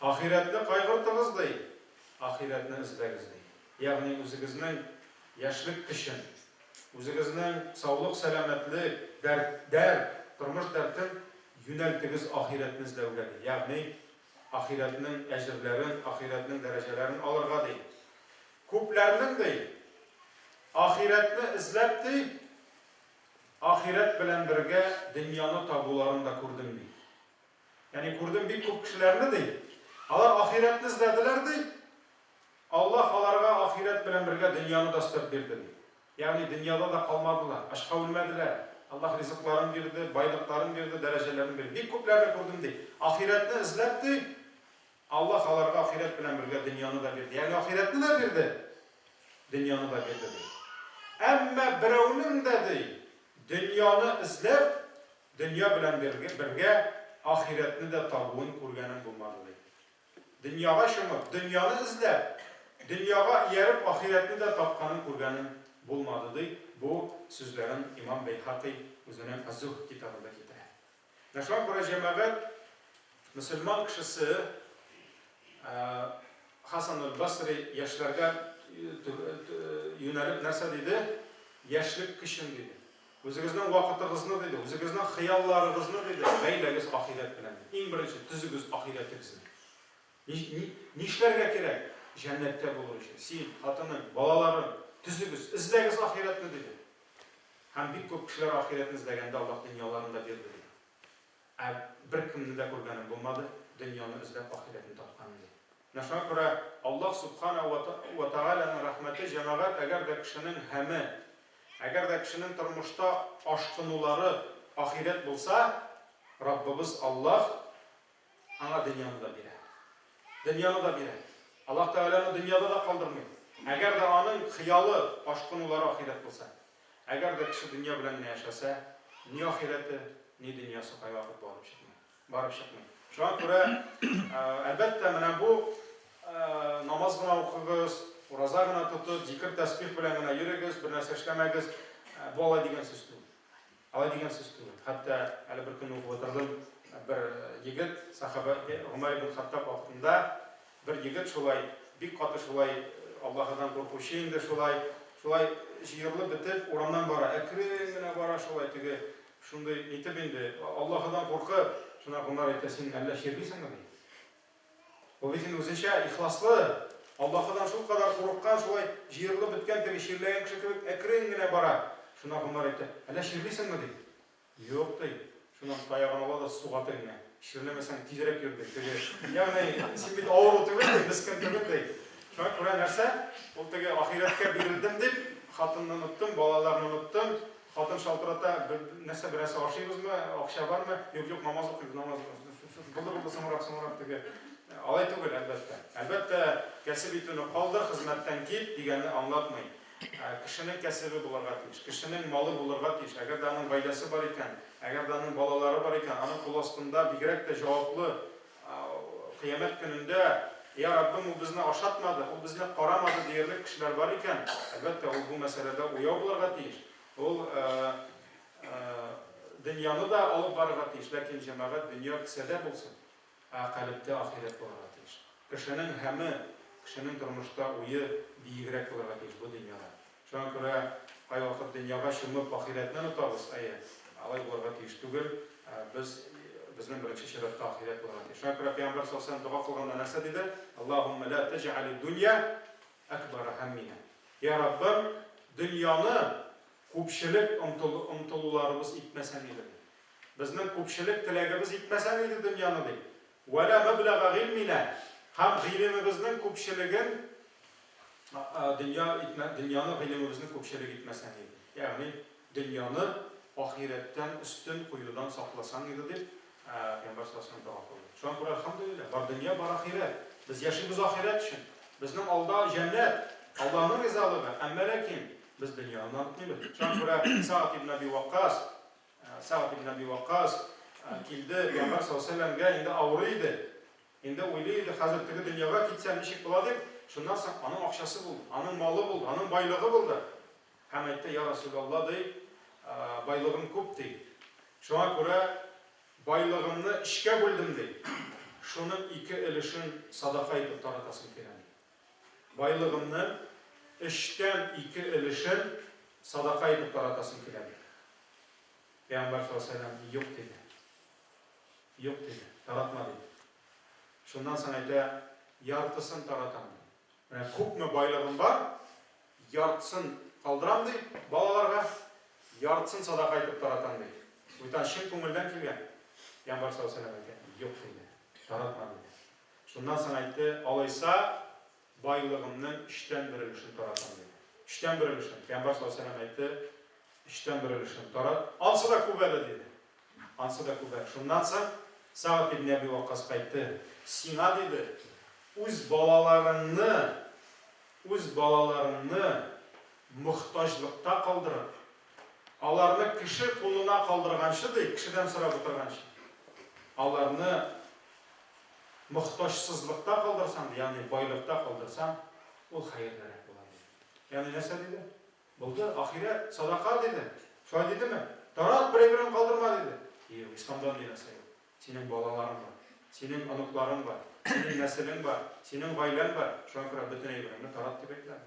Ахирәтне кайгыртыгыз, ди, ахирәтне эзләгез, ди. Ягъни үзегезнең яшьлек көчен, үзегезнең саулык-сәламәтлек, дәрт, дәрт, тормыш дәртен юнәлтегез ахирәтне эзләүгә, ди. Ягъни ахирәтнең әҗерләрен, ахирәтнең дәрәҗәләрен алырга, ди. Күпләрнең, ди, ахирәтне эзләп, ди, ахирәт белән бергә дөньяны табуларын да күрдем, ди. Яни күрдем бик күп кешеләрне, ди, алар ахирәтне эзләделәр, ди, Аллаһ аларга ахирәт белән бергә дөньяны да өстәп бирде, ди. Ягъни дөньяда да калмадылар, ачка үлмәделәр, Аллаһ ризыкларын бирде, байлыкларын бирде, дәрәҗәләрен бирде. Бик күпләрне күрдем, ди, ахирәтне эзләп, ди, Аллаһ аларга ахирәт белән бергә дөньяны да бирде. Ягъни ахирәтне дә бирде, дөньяны да бирде, ди. Әмма берәүнең дә, ди, дөньяны эзләп, Дөнья белән бергә ахирәтне дә табуын күргәнем булмады, ди. Дөньяга чумып, дөньяны эзләп, дөньяга ияреп ахирәтне дә тапканын күргәнем булмады, ди. Бу сүзләрен имам Бәйһакый үзенең Аз-Зухд китабында китерә. Менә шуңа күрә, җәмәгать, мөселман кешесе Хасан әл-Басри яшьләргә юнәлеп нәрсә диде? Яшьлек көчең, диде. Үзегезнең вакытыгызны, диде, үзегезнең хыялларыгызны, диде, бәйләгез ахирәт белән. Иң беренче төзегез ахирәтегезне. Нишләргә кирәк? Җәннәттә булыр өчен. Син, хатының, балаларың, төзегез, эзләгез ахирәтне, диде. Һәм бик күп кешеләр ахирәтне эзләгәндә Аллаһ дөньяларын да бирде, диде. Ә бер кемне дә күргәнем булмады, дөньяны эзләп ахирәтне тапкан, диде. Начар күрә, Аллаһ Сүбхана уә уә Тәгаләнең рәхмәте җәмәгать әгәр дә кешенең һәме, әгәр дә кешенең тормышта ашкынулары ахирәт булса, Раббыбыз Аллаһ аңа дөньяны да бирә. Дөньяны да бирә. Аллаһ Тәгалә аны дөньяда да калдырмый. Әгәр дә аның хыялы, ашкынулары ахирәт булса. Әгәр дә кеше дөнья белән генә яшәсә, ни ахирәте, ни дөньясы кайгыртып барып чыкмый. Барып чыкмый. Шуңа күрә, әлбәттә, менә бу намаз гына укыгыз, ураза гына тотып, зикер-тәсбих белән генә йөрегез, бер нәрсә эшләмәгез, бу алай дигән сүз түгел. Алай дигән сүз түгел. Хәтта әле бер көнне укып утырдым, бер егет, сахаба Гомәр ибн Хаттаб вакытында бер егет шулай, бик каты шулай Аллаһыдан куркучы инде шулай, шулай җыерылып бетеп, урамнан бара, әкрен генә бара шулай теге Шундый итеп инде, Аллаһыдан куркып, шуна Гомәр әйтә, син әллә чирлисеңме, ди. Ул бит инде үзенчә ихласлы, Аллаһыдан шул кадәр курыккан, шулай җыерылып беткән теге чирләгән кеше кебек әкрен генә бара. Шуна Гомәр әйтә, әллә чирлисеңме, ди. Юк, ди. Шуннан таягын ала да суга тегеңә. Чирләмәсәң, тизрәк йөр, ди, теге. Ягъни, син бит авыру түгел, ди, мескен түгел, ди. Шуңа күрә нәрсә, ул теге ахирәткә бирелдем дип, хатынны оныттым, балаларны оныттым, Хатын шалтырата, нәрсә берәрсе ашыйбызмы, акча бармы? Юк, юк, намаз укыйбыз, намаз укыйбыз. Булды, булды, соңрак, соңрак диге. Алай түгел, әлбәттә. Әлбәттә, кәсеп итүне калдыр, хезмәттән кит дигәнне аңлатмый. Кешенең кәсебе булырга тиеш, кешенең малы булырга тиеш. Әгәр дә аның гаиләсе бар икән, әгәр дә аның балалары бар икән, аның кул астында бигрәк тә җаваплы Кыямәт көнендә, я Раббым, ул безне ашатмады, ул безне карамады диярлек кешеләр бар икән, әлбәттә, ул бу мәсьәләдә уяу булырга тиеш. Ул дөньяны да алып барырга тиеш, ләкин җәмәгать дөнья кесәдә булсын, ә калебтә ахирәт булырга тиеш. Кешенең һәме, кешенең тормышта уе биегрәк булырга тиеш бу дөньяда. Шуңа күрә кайвакыт дөньяга чумып ахирәтне онытабыз, әйе, алай булырга тиеш түгел, без, безнең беренче чиратта ахирәт булырга тиеш. Шуңа күрә Пәйгамбәр саллаллаһу галәйһи ва салләм дога кылганда нәрсә диде? Аллаһуммә лә тәҗәгалид дунья әкбара һәмминә. Я Раббым, дөньяны күпчелек омтыл, омтылуларыбыз итмәсен иде, ди. Безнең күпчелек теләгебез итмәсен иде дөньяны, ди. Вә лә мәбләга гыйльминә һәм гыйлемебезнең күпчелеген дөнья итмә, дөньяны гыйлемебезнең күпчелек итмәсәң иде, ягъни дөньяны ахирәттән өстен куюдан сакласаң иде, дип, пәйгамбәр саллаллаһу галәйһи ва сәлләм дога кылды. Шуңа күрә, әлхәмдүлилләһ, бар дөнья, бар ахирәт. Без яшибез ахирәт өчен. Безнең алда җәннәт, Аллаһның ризалыгы, әмма ләкин без дөньяны онытмыйбыз. Шуңа күрә Сәгъд ибн Әби Ваккас, Сәгъд ибн Әби Ваккас килде, пәйгамбәр саллаллаһу галәйһи ва сәлләмгә инде авырый иде. Инде уйлый иде, хәзер теге дөньяга китсәм, ничек була дип. Шуннан соң аның акчасы булды, аның малы булды, аның байлыгы булды. Һәм әйтте, Йа Расуләллаһ, ди, байлыгым күп, ди. Шуңа күрә байлыгымны өчкә бүлдем, ди. Шуның ике өлешен садака итеп таратасым килә, ди. Байлыгымны өчтән ике өлешен садака итеп таратасым килә, диде. Пәйгамбәр саллаллаһу алейһи ва сәлләм юк диде. Юк диде, таратма диде. Шуннан соң әйтә, яртысын таратам, ди. Менә күпме байлыгым бар, яртысын калдырам, ди, балаларга, яртысын садака итеп таратам, ди. Бүтән чын күңелдән килгән. Пәйгамбәр саллаллаһу алейһи ва сәлләм әйтә, юк диде, таратма диде. Шуннан соң әйтте, Алайса, байлыгымның өчтән бер өлешен таратам, диде. Өчтән бер өлешен. Пәйгамбәр саллаллаһу алейһи ва сәлләм әйтте, Өчтән бер өлешен тарат. Ансы да күп әле, диде. Ансы да күп әле. Шуннан соң Сагд ибн Әби Ваккас әйтте, Сиңа, диде, үз балаларыңны, үз балаларыңны мохтаҗлыкта калдырып, аларны кеше кулына калдырганчы, ди, кешедән сорап утырганчы, аларны мохтаҗсызлыкта калдырсаң, ягъни байлыкта калдырсаң, ул хәерлерәк була, диде. Ягъни нәрсә диде? Булды, ахирәт, садака, диде. Шулай дидеме? Тарат, берәй-берен калдырма, диде. Юк, Исламда андый нәрсә юк. Синең балаларың бар, синең оныкларың бар, синең нәселең бар, синең гаиләң бар, шуңа күрә бөтен әйбереңне тарат дип әйтмәде.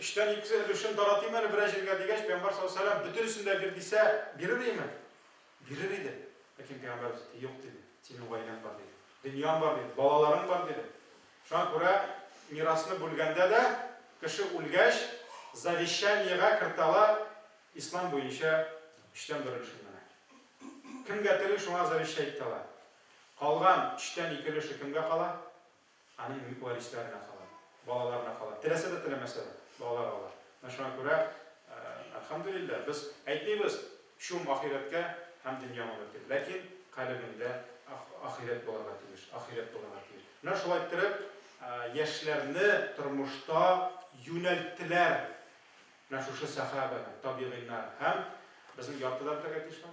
Өчтән икесе өлешен таратыйм әле берәр җиргә, дигәч, пәйгамбәр саллаллаһу галәйһи ва сәлләм, Бөтенесен дә бир, дисә, бирер идеме? Бирер иде. Ләкин пәйгамбәребез әйтте, Юк, диде, синең гаиләң бар, диде. Дөньяң бар, диде. Балаларың бар, диде. Шуңа күрә мирасны бүлгәндә дә кеше үлгәч, завещаниегә кертә ала, ислам буенча өчтән бер өлешен генә. Кемгә тели, шуңа завещать итә ала. Калган өчтән ике өлеше кемгә кала? Аның бөек варисләренә кала, балаларына кала. Теләсә дә, теләмәсә дә, балалар ала. Менә шуңа күрә, әлхәмдүлилләһ, без әйтмибез, чум ахирәткә һәм дөнья моңы дип, ләкин калебеңдә ахирәт булырга тиеш, ахирәт булырга тиеш. Менә шулай иттереп, яшьләрне тормышта юнәлттеләр менә шушы сәхабәләр, табигыйннар һәм безнең яртыдан үтәргә тиешме?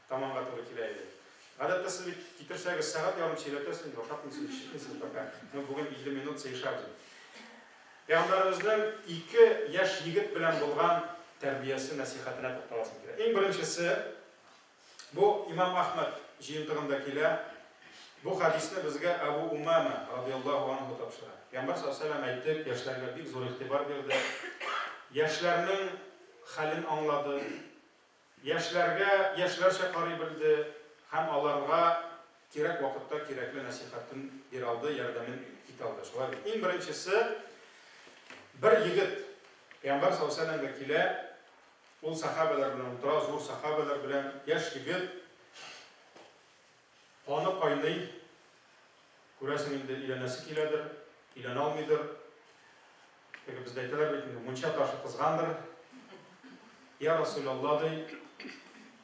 Таманга туры килә иде. Гадәттә сез бит китерсәгез сәгать ярым сөйләтәсез инде, ашатмыйсыз, эчермисез пока. Ну, бүген 50 минут сыеша ди. Пәйгамбәребезнең ике яшь егет белән булган тәрбиясе нәсихәтенә тукталасым килә. Иң беренчесе бу Имам Ахмад җыентыгында килә. Бу хадисне безгә Абу Умама радиаллаху анху тапшыра. Пәйгамбәр саллаллаху алейһи ва әйтте, яшьләргә бик зур игътибар бирде. Яшьләрнең хәлен аңлады, Яшьләргә яшьләрчә карый белде һәм аларга кирәк вакытта кирәкле нәсыйхәтен бирә алды, ярдәмен итә алды. Шулай бит? Иң беренчесе, бер егет Пәйгамбәр саллаллаһу галәйһи ва сәлләмгә килә, ул сәхабәләр белән утыра, зур сәхабәләр белән, яшь егет. Каны кайный, күрәсең, инде өйләнәсе киләдер, өйләнә алмыйдыр. Теге бездә әйтәләр бит инде, мунча ташы кызгандыр. Я Расулялла, ди,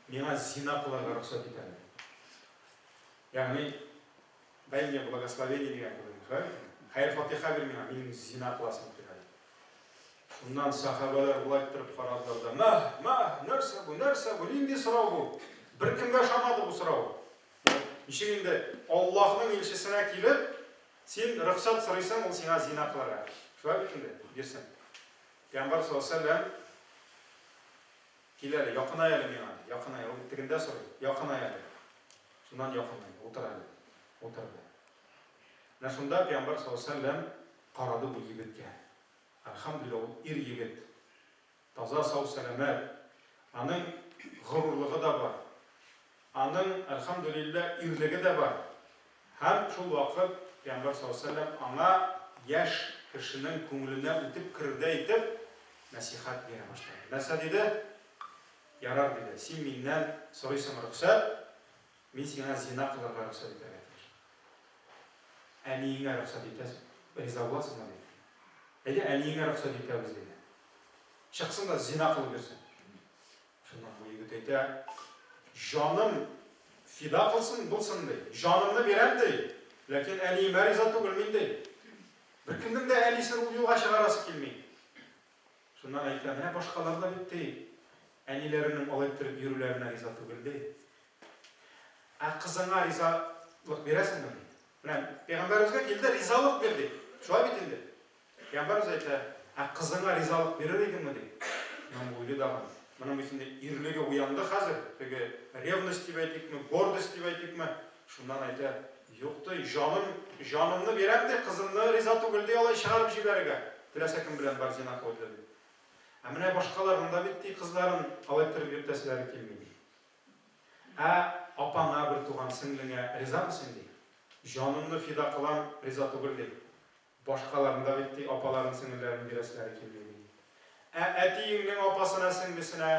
миңа зина кылырга рөхсәт ит әле. Ягъни, дай мне благословение дигән кебек, хәер-фатиха бир миңа, минем зина кыласым килә. Шуннан сәхабәләр болай иттереп карадылар да, Мәһ, мәһ, нәрсә бу, нәрсә бу, нинди сорау бу? Беркемгә ошамады бу сорау. Ничек инде Аллаһның илчесенә килеп, син рөхсәт сорыйсың, ул сиңа зина кылырга. Шулай бит инде, бирсен. Пәйгамбәр саллаллаху алейһи вәсәлләм киләле, якынай әле миңа, якынай, ул тегендә сорый, якынай әле. Шуннан якынай, утыр әле, утырды. Менә шунда пәйгамбәр саллаллаху алейһи вәсәлләм Карады бу егеткә. Әлхәмдүлилла, ул ир-егет. Таза, сау-сәламәт. Аның горурлыгы да бар. Аның, әлхәмдүлилла, ирлеге дә бар. Һәм шул вакыт пәйгамбәр саллаллаһу галәйһи ва сәлләм аңа яшь кешенең күңеленә үтеп керердәй итеп нәсыйхәт бирә башлады. Нәрсә диде? Ярар, диде, син миннән сорыйсың рөхсәт, Мин сиңа зина кылырга рөхсәт итәргә тиеш. Әниеңә рөхсәт итәсең, риза буласыңмы? диде. Әйдә, әниеңә рөхсәт итәбез, диде. Чыксын да зина кылып йөрсен. Шуннан бу егет әйтә, җаным фида кылсын, булсын, ди. Җанымны бирәм, ди. Ләкин әниемә риза түгелмен, ди. Беркемнең дә әнисен ул юлга чыгарасы килми. Шуннан әйтә, менә башкалар да бит, ди, әниләренең алай иттереп йөрүләренә риза түгел, ди. Ә кызыңа ризалык бирәсеңме, ди. Менә пәйгамбәребезгә килде, ризалык бир, ди. Шулай бит инде. Пәйгамбәребез әйтә, ә кызыңа ризалык бирер идеңме, ди. Имам Буйли дагы моның өчен ирлеге уянды хәзер, теге ревность дип әйтикме, гордость дип әйтикме, Шуннан әйтә, Юк ди, җаным, җанымны бирәм ди, кызымны риза түгел ди алай чыгарып җибәрергә, теләсә кем белән бар, зина кылып йөр, ди. Ә менә башкаларның да бит, ди, кызларын алай төреп йөртәселәре килми, ди. Ә апаңа, бертуган сеңлеңә ризамы син, ди. Җанымны фида кылам, риза түгел, ди. Башкаларны да бит ти, апаларын, сеңелләрен бирәселәре килми, ди. Ә әтиеңнең апасына, сеңлесенә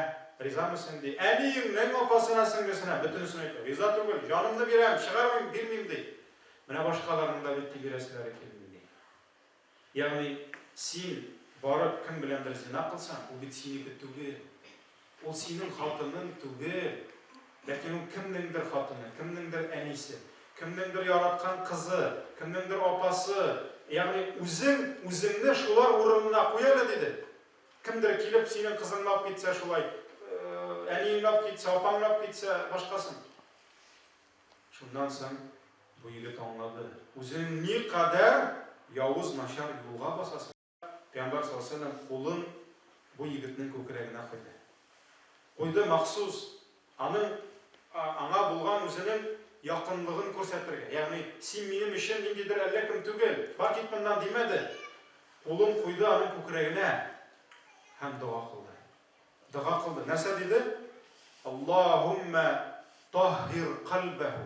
ризамы син, ди. Әниеңнең апасына, сеңлесенә бөтенесен әйтә. Риза түгел, җанымны бирәм, чыгармыйм, бирмим, ди. Менә башкаларның да бит ти бирәселәре килми, ди. Ягъни, син барып кем беләндер зина кылсаң, ул бит синеке түгел. Ул синең хатының түгел, ләкин ул кемнеңдер хатыны, кемнеңдер әнисе, кемнеңдер яраткан кызы, кемнеңдер апасы. Ягъни үзең үзеңне шулар урынына куй әле, диде. Кемдер килеп, синең кызыңны алып китсә шулай, әниеңне алып китсә, апаңны алып китсә, башкасын. Шуннан соң бу егет аңлады, үзең никадәр явыз, начар юлга басасың. Пәйгамбәр саллаллаһу галәйһи ва сәлләм кулын бу егетнең күкрәгенә куйды. Куйды махсус, аның аңа булган үзенең якынлыгын күрсәтергә. Ягъни, син минем өчен ниндидер әллә кем түгел, бар кит моннан, димәде. Кулын куйды аның күкрәгенә һәм дога кылды. Дога кылды. Нәрсә диде? Аллаһуммә таһһир кальбәһу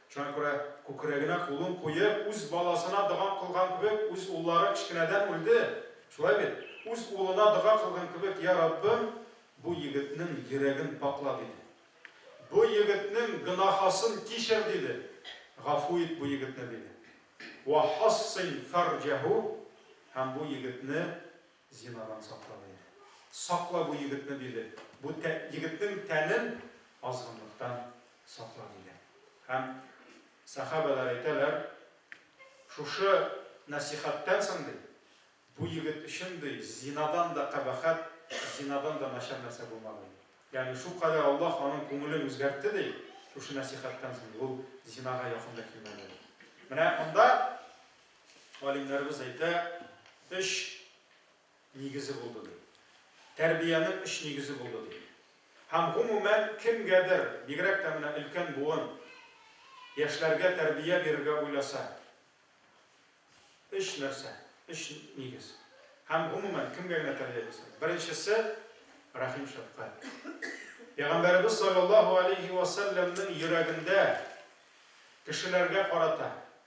Шуңа күрә күкрәгенә кулын куеп, үз баласына дога кылган кебек, үз уллары кечкенәдән үлде, шулай бит? үз улына дога кылган кебек, Йа Раббым, бу егетнең йөрәген пакла, диде. Бу егетнең гөнаһасын кичер, диде. Гафу ит бу егетне, диде. Ва хассин фәрҗәһү, һәм бу егетне Зинадан сакла, диде. Сакла бу егетне, диде. Бу егетнең тәнен азгынлыктан сакла, диде. Һәм сәхабәләр әйтәләр, шушы нәсихәттән соң, ди, бу егет өчен, ди, зинадан да кабахәт, зинадан да начар нәрсә булмады, ди. Ягъни шулкадәр Аллаһ аның күңелен үзгәртте, ди, шушы нәсихәттән соң ул зинага якын да килмәде, ди. Менә монда галимнәребез әйтә, өч нигезе булды ди. Тәрбиянең өч нигезе булды ди. Һәм гомумән кемгәдер, бигрәк тә менә өлкән буын яшьләргә тәрбия бирергә уйласа, өч нәрсә, өч нигез. Һәм гомумән кемгә генә тәрбия бирсә. Беренчесе рәхим шәфкать. Пәйгамбәребез саллаллаһу алейхи ва саллямның йөрәгендә кешеләргә карата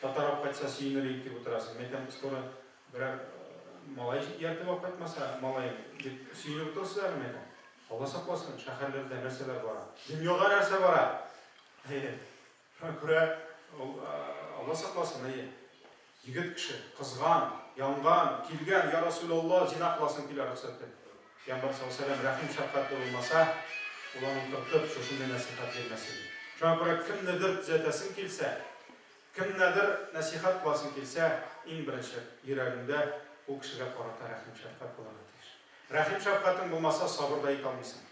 Татар алып кайтса сөенер идек дип утырасың. Мин әйтәм, скоро берәр малай ияртеп алып кайтмаса, малаем дип сөенеп утырасызлар мени? әйтәм. Алла сакласын, шәһәрләрдә нәрсәләр бара. Дөньяда нәрсә бара? Әйе. Шуңа күрә Алла сакласын, әйе. Егет кеше, кызган, янган, килгән, я Расул Алла, зина кыласым килә рөхсәт ит. Пәйгамбәр саллаллаһу галәйһи ва сәлләм рәхим шәфкатьле булмаса, ул аны утыртып, шушындый нәсыйхәт бирмәс иде. Шуңа күрә кемнедер төзәтәсең килсә, кемнәдер нәсыйхәт кыласың килсә, иң беренче йөрәгеңдә ул кешегә карата рәхим шәфкать булырга тиеш. Рәхим шәфкатең булмаса, сабыр да итә алмыйсың.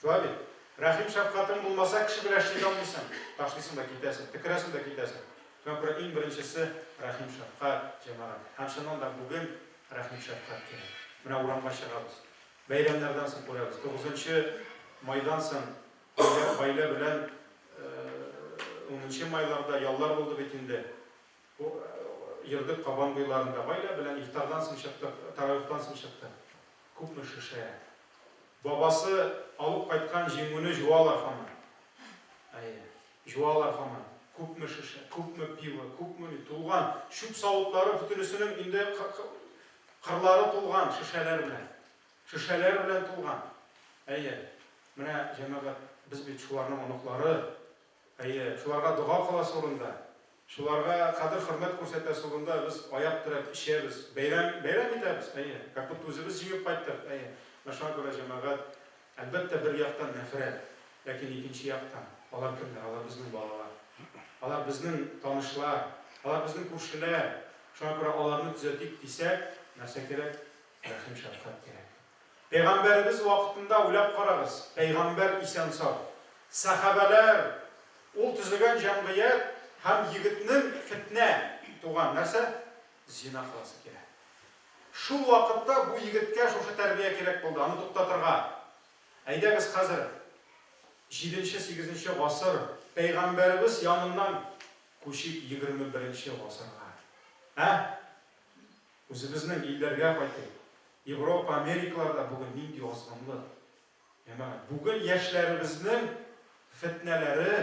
Шулай бит? Рәхим-шәфкатең булмаса, кеше белән эшли дә алмыйсың, ташлыйсың да китәсең, төкерәсең дә китәсең. Чөнки иң беренчесе, рәхим-шәфкать, җәмәгать. Һәм чыннан да бүген рәхим-шәфкать кирәк. Менә урамга чыгабыз. Бәйрәмнәрдән соң күрәбез. Тугызынчы майдан соң гаилә белән унынчы майларда яллар булды бит инде. Йөрдек Кабан буйларында. Гаилә белән ифтардан соң чыктык, таравихтан соң чыктык. Күпме шешә. Бабасы алып кайткан җиңүне җуалар һаман. Әйе, җуалар һаман. Күпме шешә, күпме пиво, күпмени тулган, чүп савытлары бөтенесенең инде кырлары тулган шешәләр белән. Шешәләр белән тулган. Әйе, менә, җәмәгать, без бит шуларның оныклары. Әйе, шуларга дога кыласы урында, шуларга кадер-хөрмәт күрсәтәсе урында без аяк терәп эчәбез, бәйрәм, бәйрәм итәбез, әйе, как будто үзебез җиңеп кайттык, әйе. Менә шуңа күрә җәмәгать, әлбәттә, бер яктан нәфрәт, ләкин икенче яктан, алар кемнәр? Алар безнең балалар. Алар безнең танышлар. Алар безнең күршеләр. Шуңа күрә аларны төзәтик дисәк, нәрсә кирәк? Рәхим-шәфкать кирәк. Пәйгамбәребез вакытында уйлап карагыз, пәйгамбәр исән-сау, сәхабәләр, ул төзегән җәмгыять һәм егетнең фетнә туган, нәрсә? Зина кыласы килә. Шул вакытта бу егеткә шушы тәрбия кирәк булды, аны туктатырга. Әйдәгез хәзер җиденче-сигезенче гасыр, пәйгамбәребез яныннан күчик егерме беренче гасырга. Ә? Үзебезнең илләргә кайтыйк. Европа, Америкаларда бүген нинди азгынлык. Җәмәгать, бүген яшьләребезнең фетнәләре,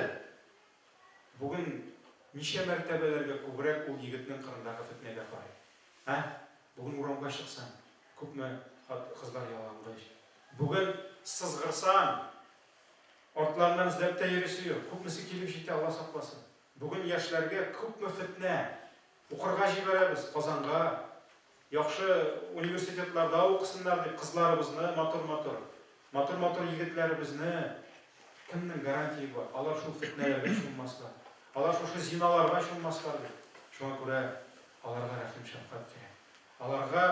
бүген ничә мәртәбәләргә күбрәк ул егетнең кырындагы фетнәгә карый. Ә? Бүген урамга чыксаң, күпме кызлар ялангыч. Бүген сызгырсаң, артларыннан эзләп тә йөрисе юк. Күпмесе килеп җитә, Алла сакласын. Бүген яшьләргә күпме фетнә, Укырга җибәрәбез, Казанга, яхшы университетларда укысыннар дип, кызларыбызны, матур-матур, матур-матур егетләребезне, кемнең гарантии бар, алар шул фетнәләргә чуммаслар, алар шушы зиналарга чуммаслар дип. Шуңа күрә аларга рәхим-шәфкать кирәк, аларга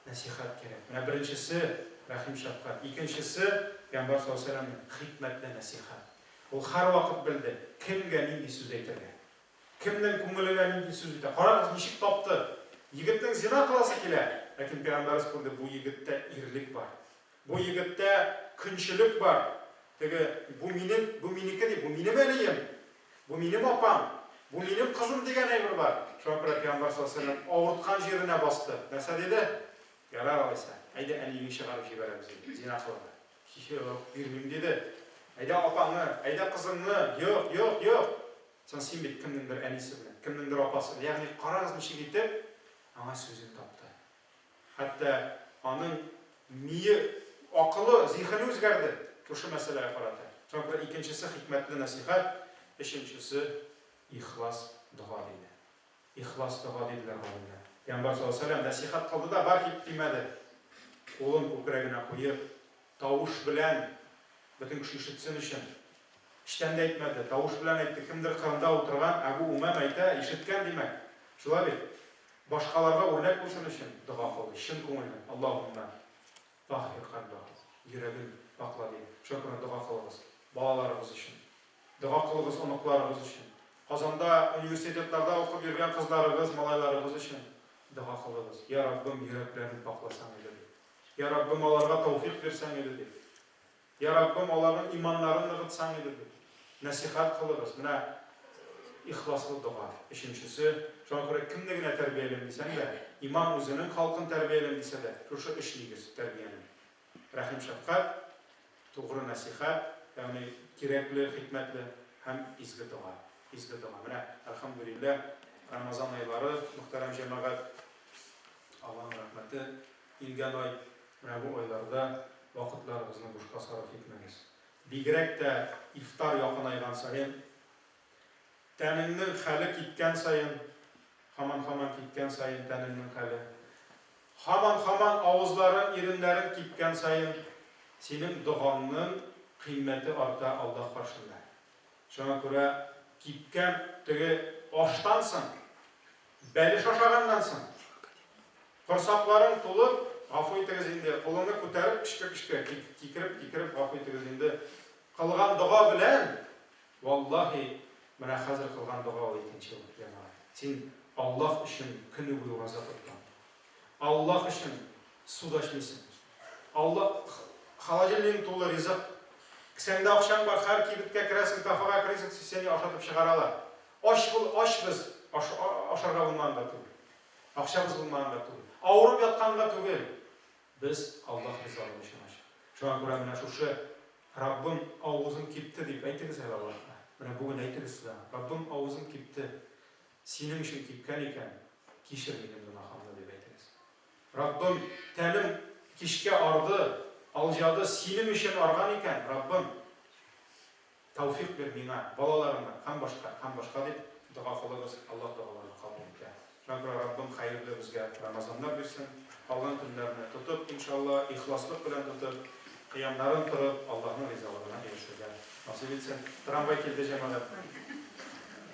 нәсыйхәт кирәк. Менә беренчесе, рәхим-шәфкать, икенчесе, Пәйгамбәр саллаллаһу галәйһи ва сәлләмнең хикмәтле нәсыйхәт. Ул һәрвакыт белде, кемгә нинди сүз әйтергә. Кемнең күңеленә нинди сүз җитә? Карагыз, ничек тапты! Егетнең зина кыласы килә, ләкин пәйгамбәребез күрде, бу егеттә ирлек бар. Бу егеттә көнчелек бар. Теге, бу минем, бу минеке ди, бу минем әнием, бу минем апам, бу минем кызым дигән әйбер бар. Шуңа күрә пәйгамбәр саллаллаһу галәйһи ва сәлләм авырткан җиренә басты. Нәрсә диде? Ярар алайса, әйдә әниеңне чыгарып җибәрәбез, диде. Зина кылды. Юк, бирмим, диде. Әйдә апаңны, әйдә кызыңны, юк, юк, юк! Соң син бит кемнеңдер әнисе белән, кемнеңдер апасы, ягъни карагыз ничек итеп аңа сүзен тапты. Хәтта аның мие, акылы, зиһене үзгәрде шушы мәсьәләгә карата. Соң бер икенчесе хикмәтле нәсыйхәт, өченчесе ихлас дога диде. Ихлас дога, диделәр галимнәр. Пәйгамбәр саллаллаһу алейһи ва сәлләм нәсыйхәт кылды да, бар кит, димәде. Кулын күкрәгенә куеп, тавыш белән, бөтен кеше ишетсен өчен, эчтән дә әйтмәде, тавыш белән әйтте, Кемдер кырында утырган Әбү Умәмә әйтә, ишеткән, димәк. Шулай бит? Башкаларга үрнәк булсын өчен дога кылды, чын күңелдән, Аллаһуммә. Таһир кайнагыз, йөрәген пакла дип, Шөкерне дога кылыгыз. Балаларыгыз өчен. Дога кылыгыз оныкларыгыз өчен. Казанда, университетларда укып йөргән кызларыгыз, малайларыгыз өчен дога кылыгыз. Йә, Раббым, йөрәкләрен пакласаң иде, дип. Йә, Раббым, аларга тәүфыйк бирсәң иде, дип. Йә, Раббым, аларның иманнарын ныгытсаң иде бит. Нәсыйхәт кылыгыз. Менә ихласлы дога. Өченчесе, шуңа күрә кемне генә тәрбиялим дисәң дә, имам үзенең халкын тәрбиялим дисә дә, шушы өч нигез тәрбиянең. Рәхим-шәфкать, тугры нәсыйхәт, ягъни кирәкле, хикмәтле, һәм изге дога. Изге дога. Менә, әлхәмдүлилләһ, Рамазан айлары, мөхтәрәм җәмәгать, Алланың рәхмәте, Килгән ай, менә бу айларда вакытларыгызны бушка сарыф итмәгез. Бигрәк тә ифтар якынайган саен, тәнеңнең хәле киткән саен, һаман-һаман киткән саен тәнеңнең хәле, һаман-һаман авызларың, иреннәрең кипкән саен, синең догаңның кыйммәте арта Аллаһ каршында. Шуңа күрә кипкән теге аштан соң, бәлеш ашаганнан соң, корсакларың тулып, гафу итегез инде, кулыңны күтәреп, пешкә-пешкә, кикереп-кикереп, гафу итегез инде, кылган дога белән, валлаһи, менә хәзер кылган дога ул икенче ул, җәмәгать. Син Аллаһ өчен көне буе ураза тоттың. Аллаһ өчен су да эчмисең. Аллаһ холодильнигың тулы ризык. Кесәңдә акчаң бар, һәр кибеткә керәсең, кафега керәсең, сине ашатып чыгаралар. Ач бул, ач без, ашарга булмаганда түгел. Акчабыз булмаганда түгел. Авырып ятканда түгел. Без Аллаһ ризалыгы өчен ач. Шуңа күрә менә шушы Раббым авызым кипте дип әйтегез әле Аллаһка. Менә бүген әйтегез сез аңа. Раббым авызым кипте. Синең өчен типкән икән, кичер минем гөнаһымны, дип әйтегез. Раббым, тәнем кичкә арды, алҗады, синең өчен арган икән, Раббым, тәүфик бир миңа, балаларыма һәм башка, һәм башка дип дога кылыгыз, Аллаһ догаларны кабул итә. Мәгъфирә Раббым хәерле безгә Рамазаннар бирсен, калган көннәрне тотып, иншалла, ихласлык белән тотып, кыямнарын торып, Аллаһның ризалыгына ирешергә насыйп итсен. Трамвай килде, җәмәгать.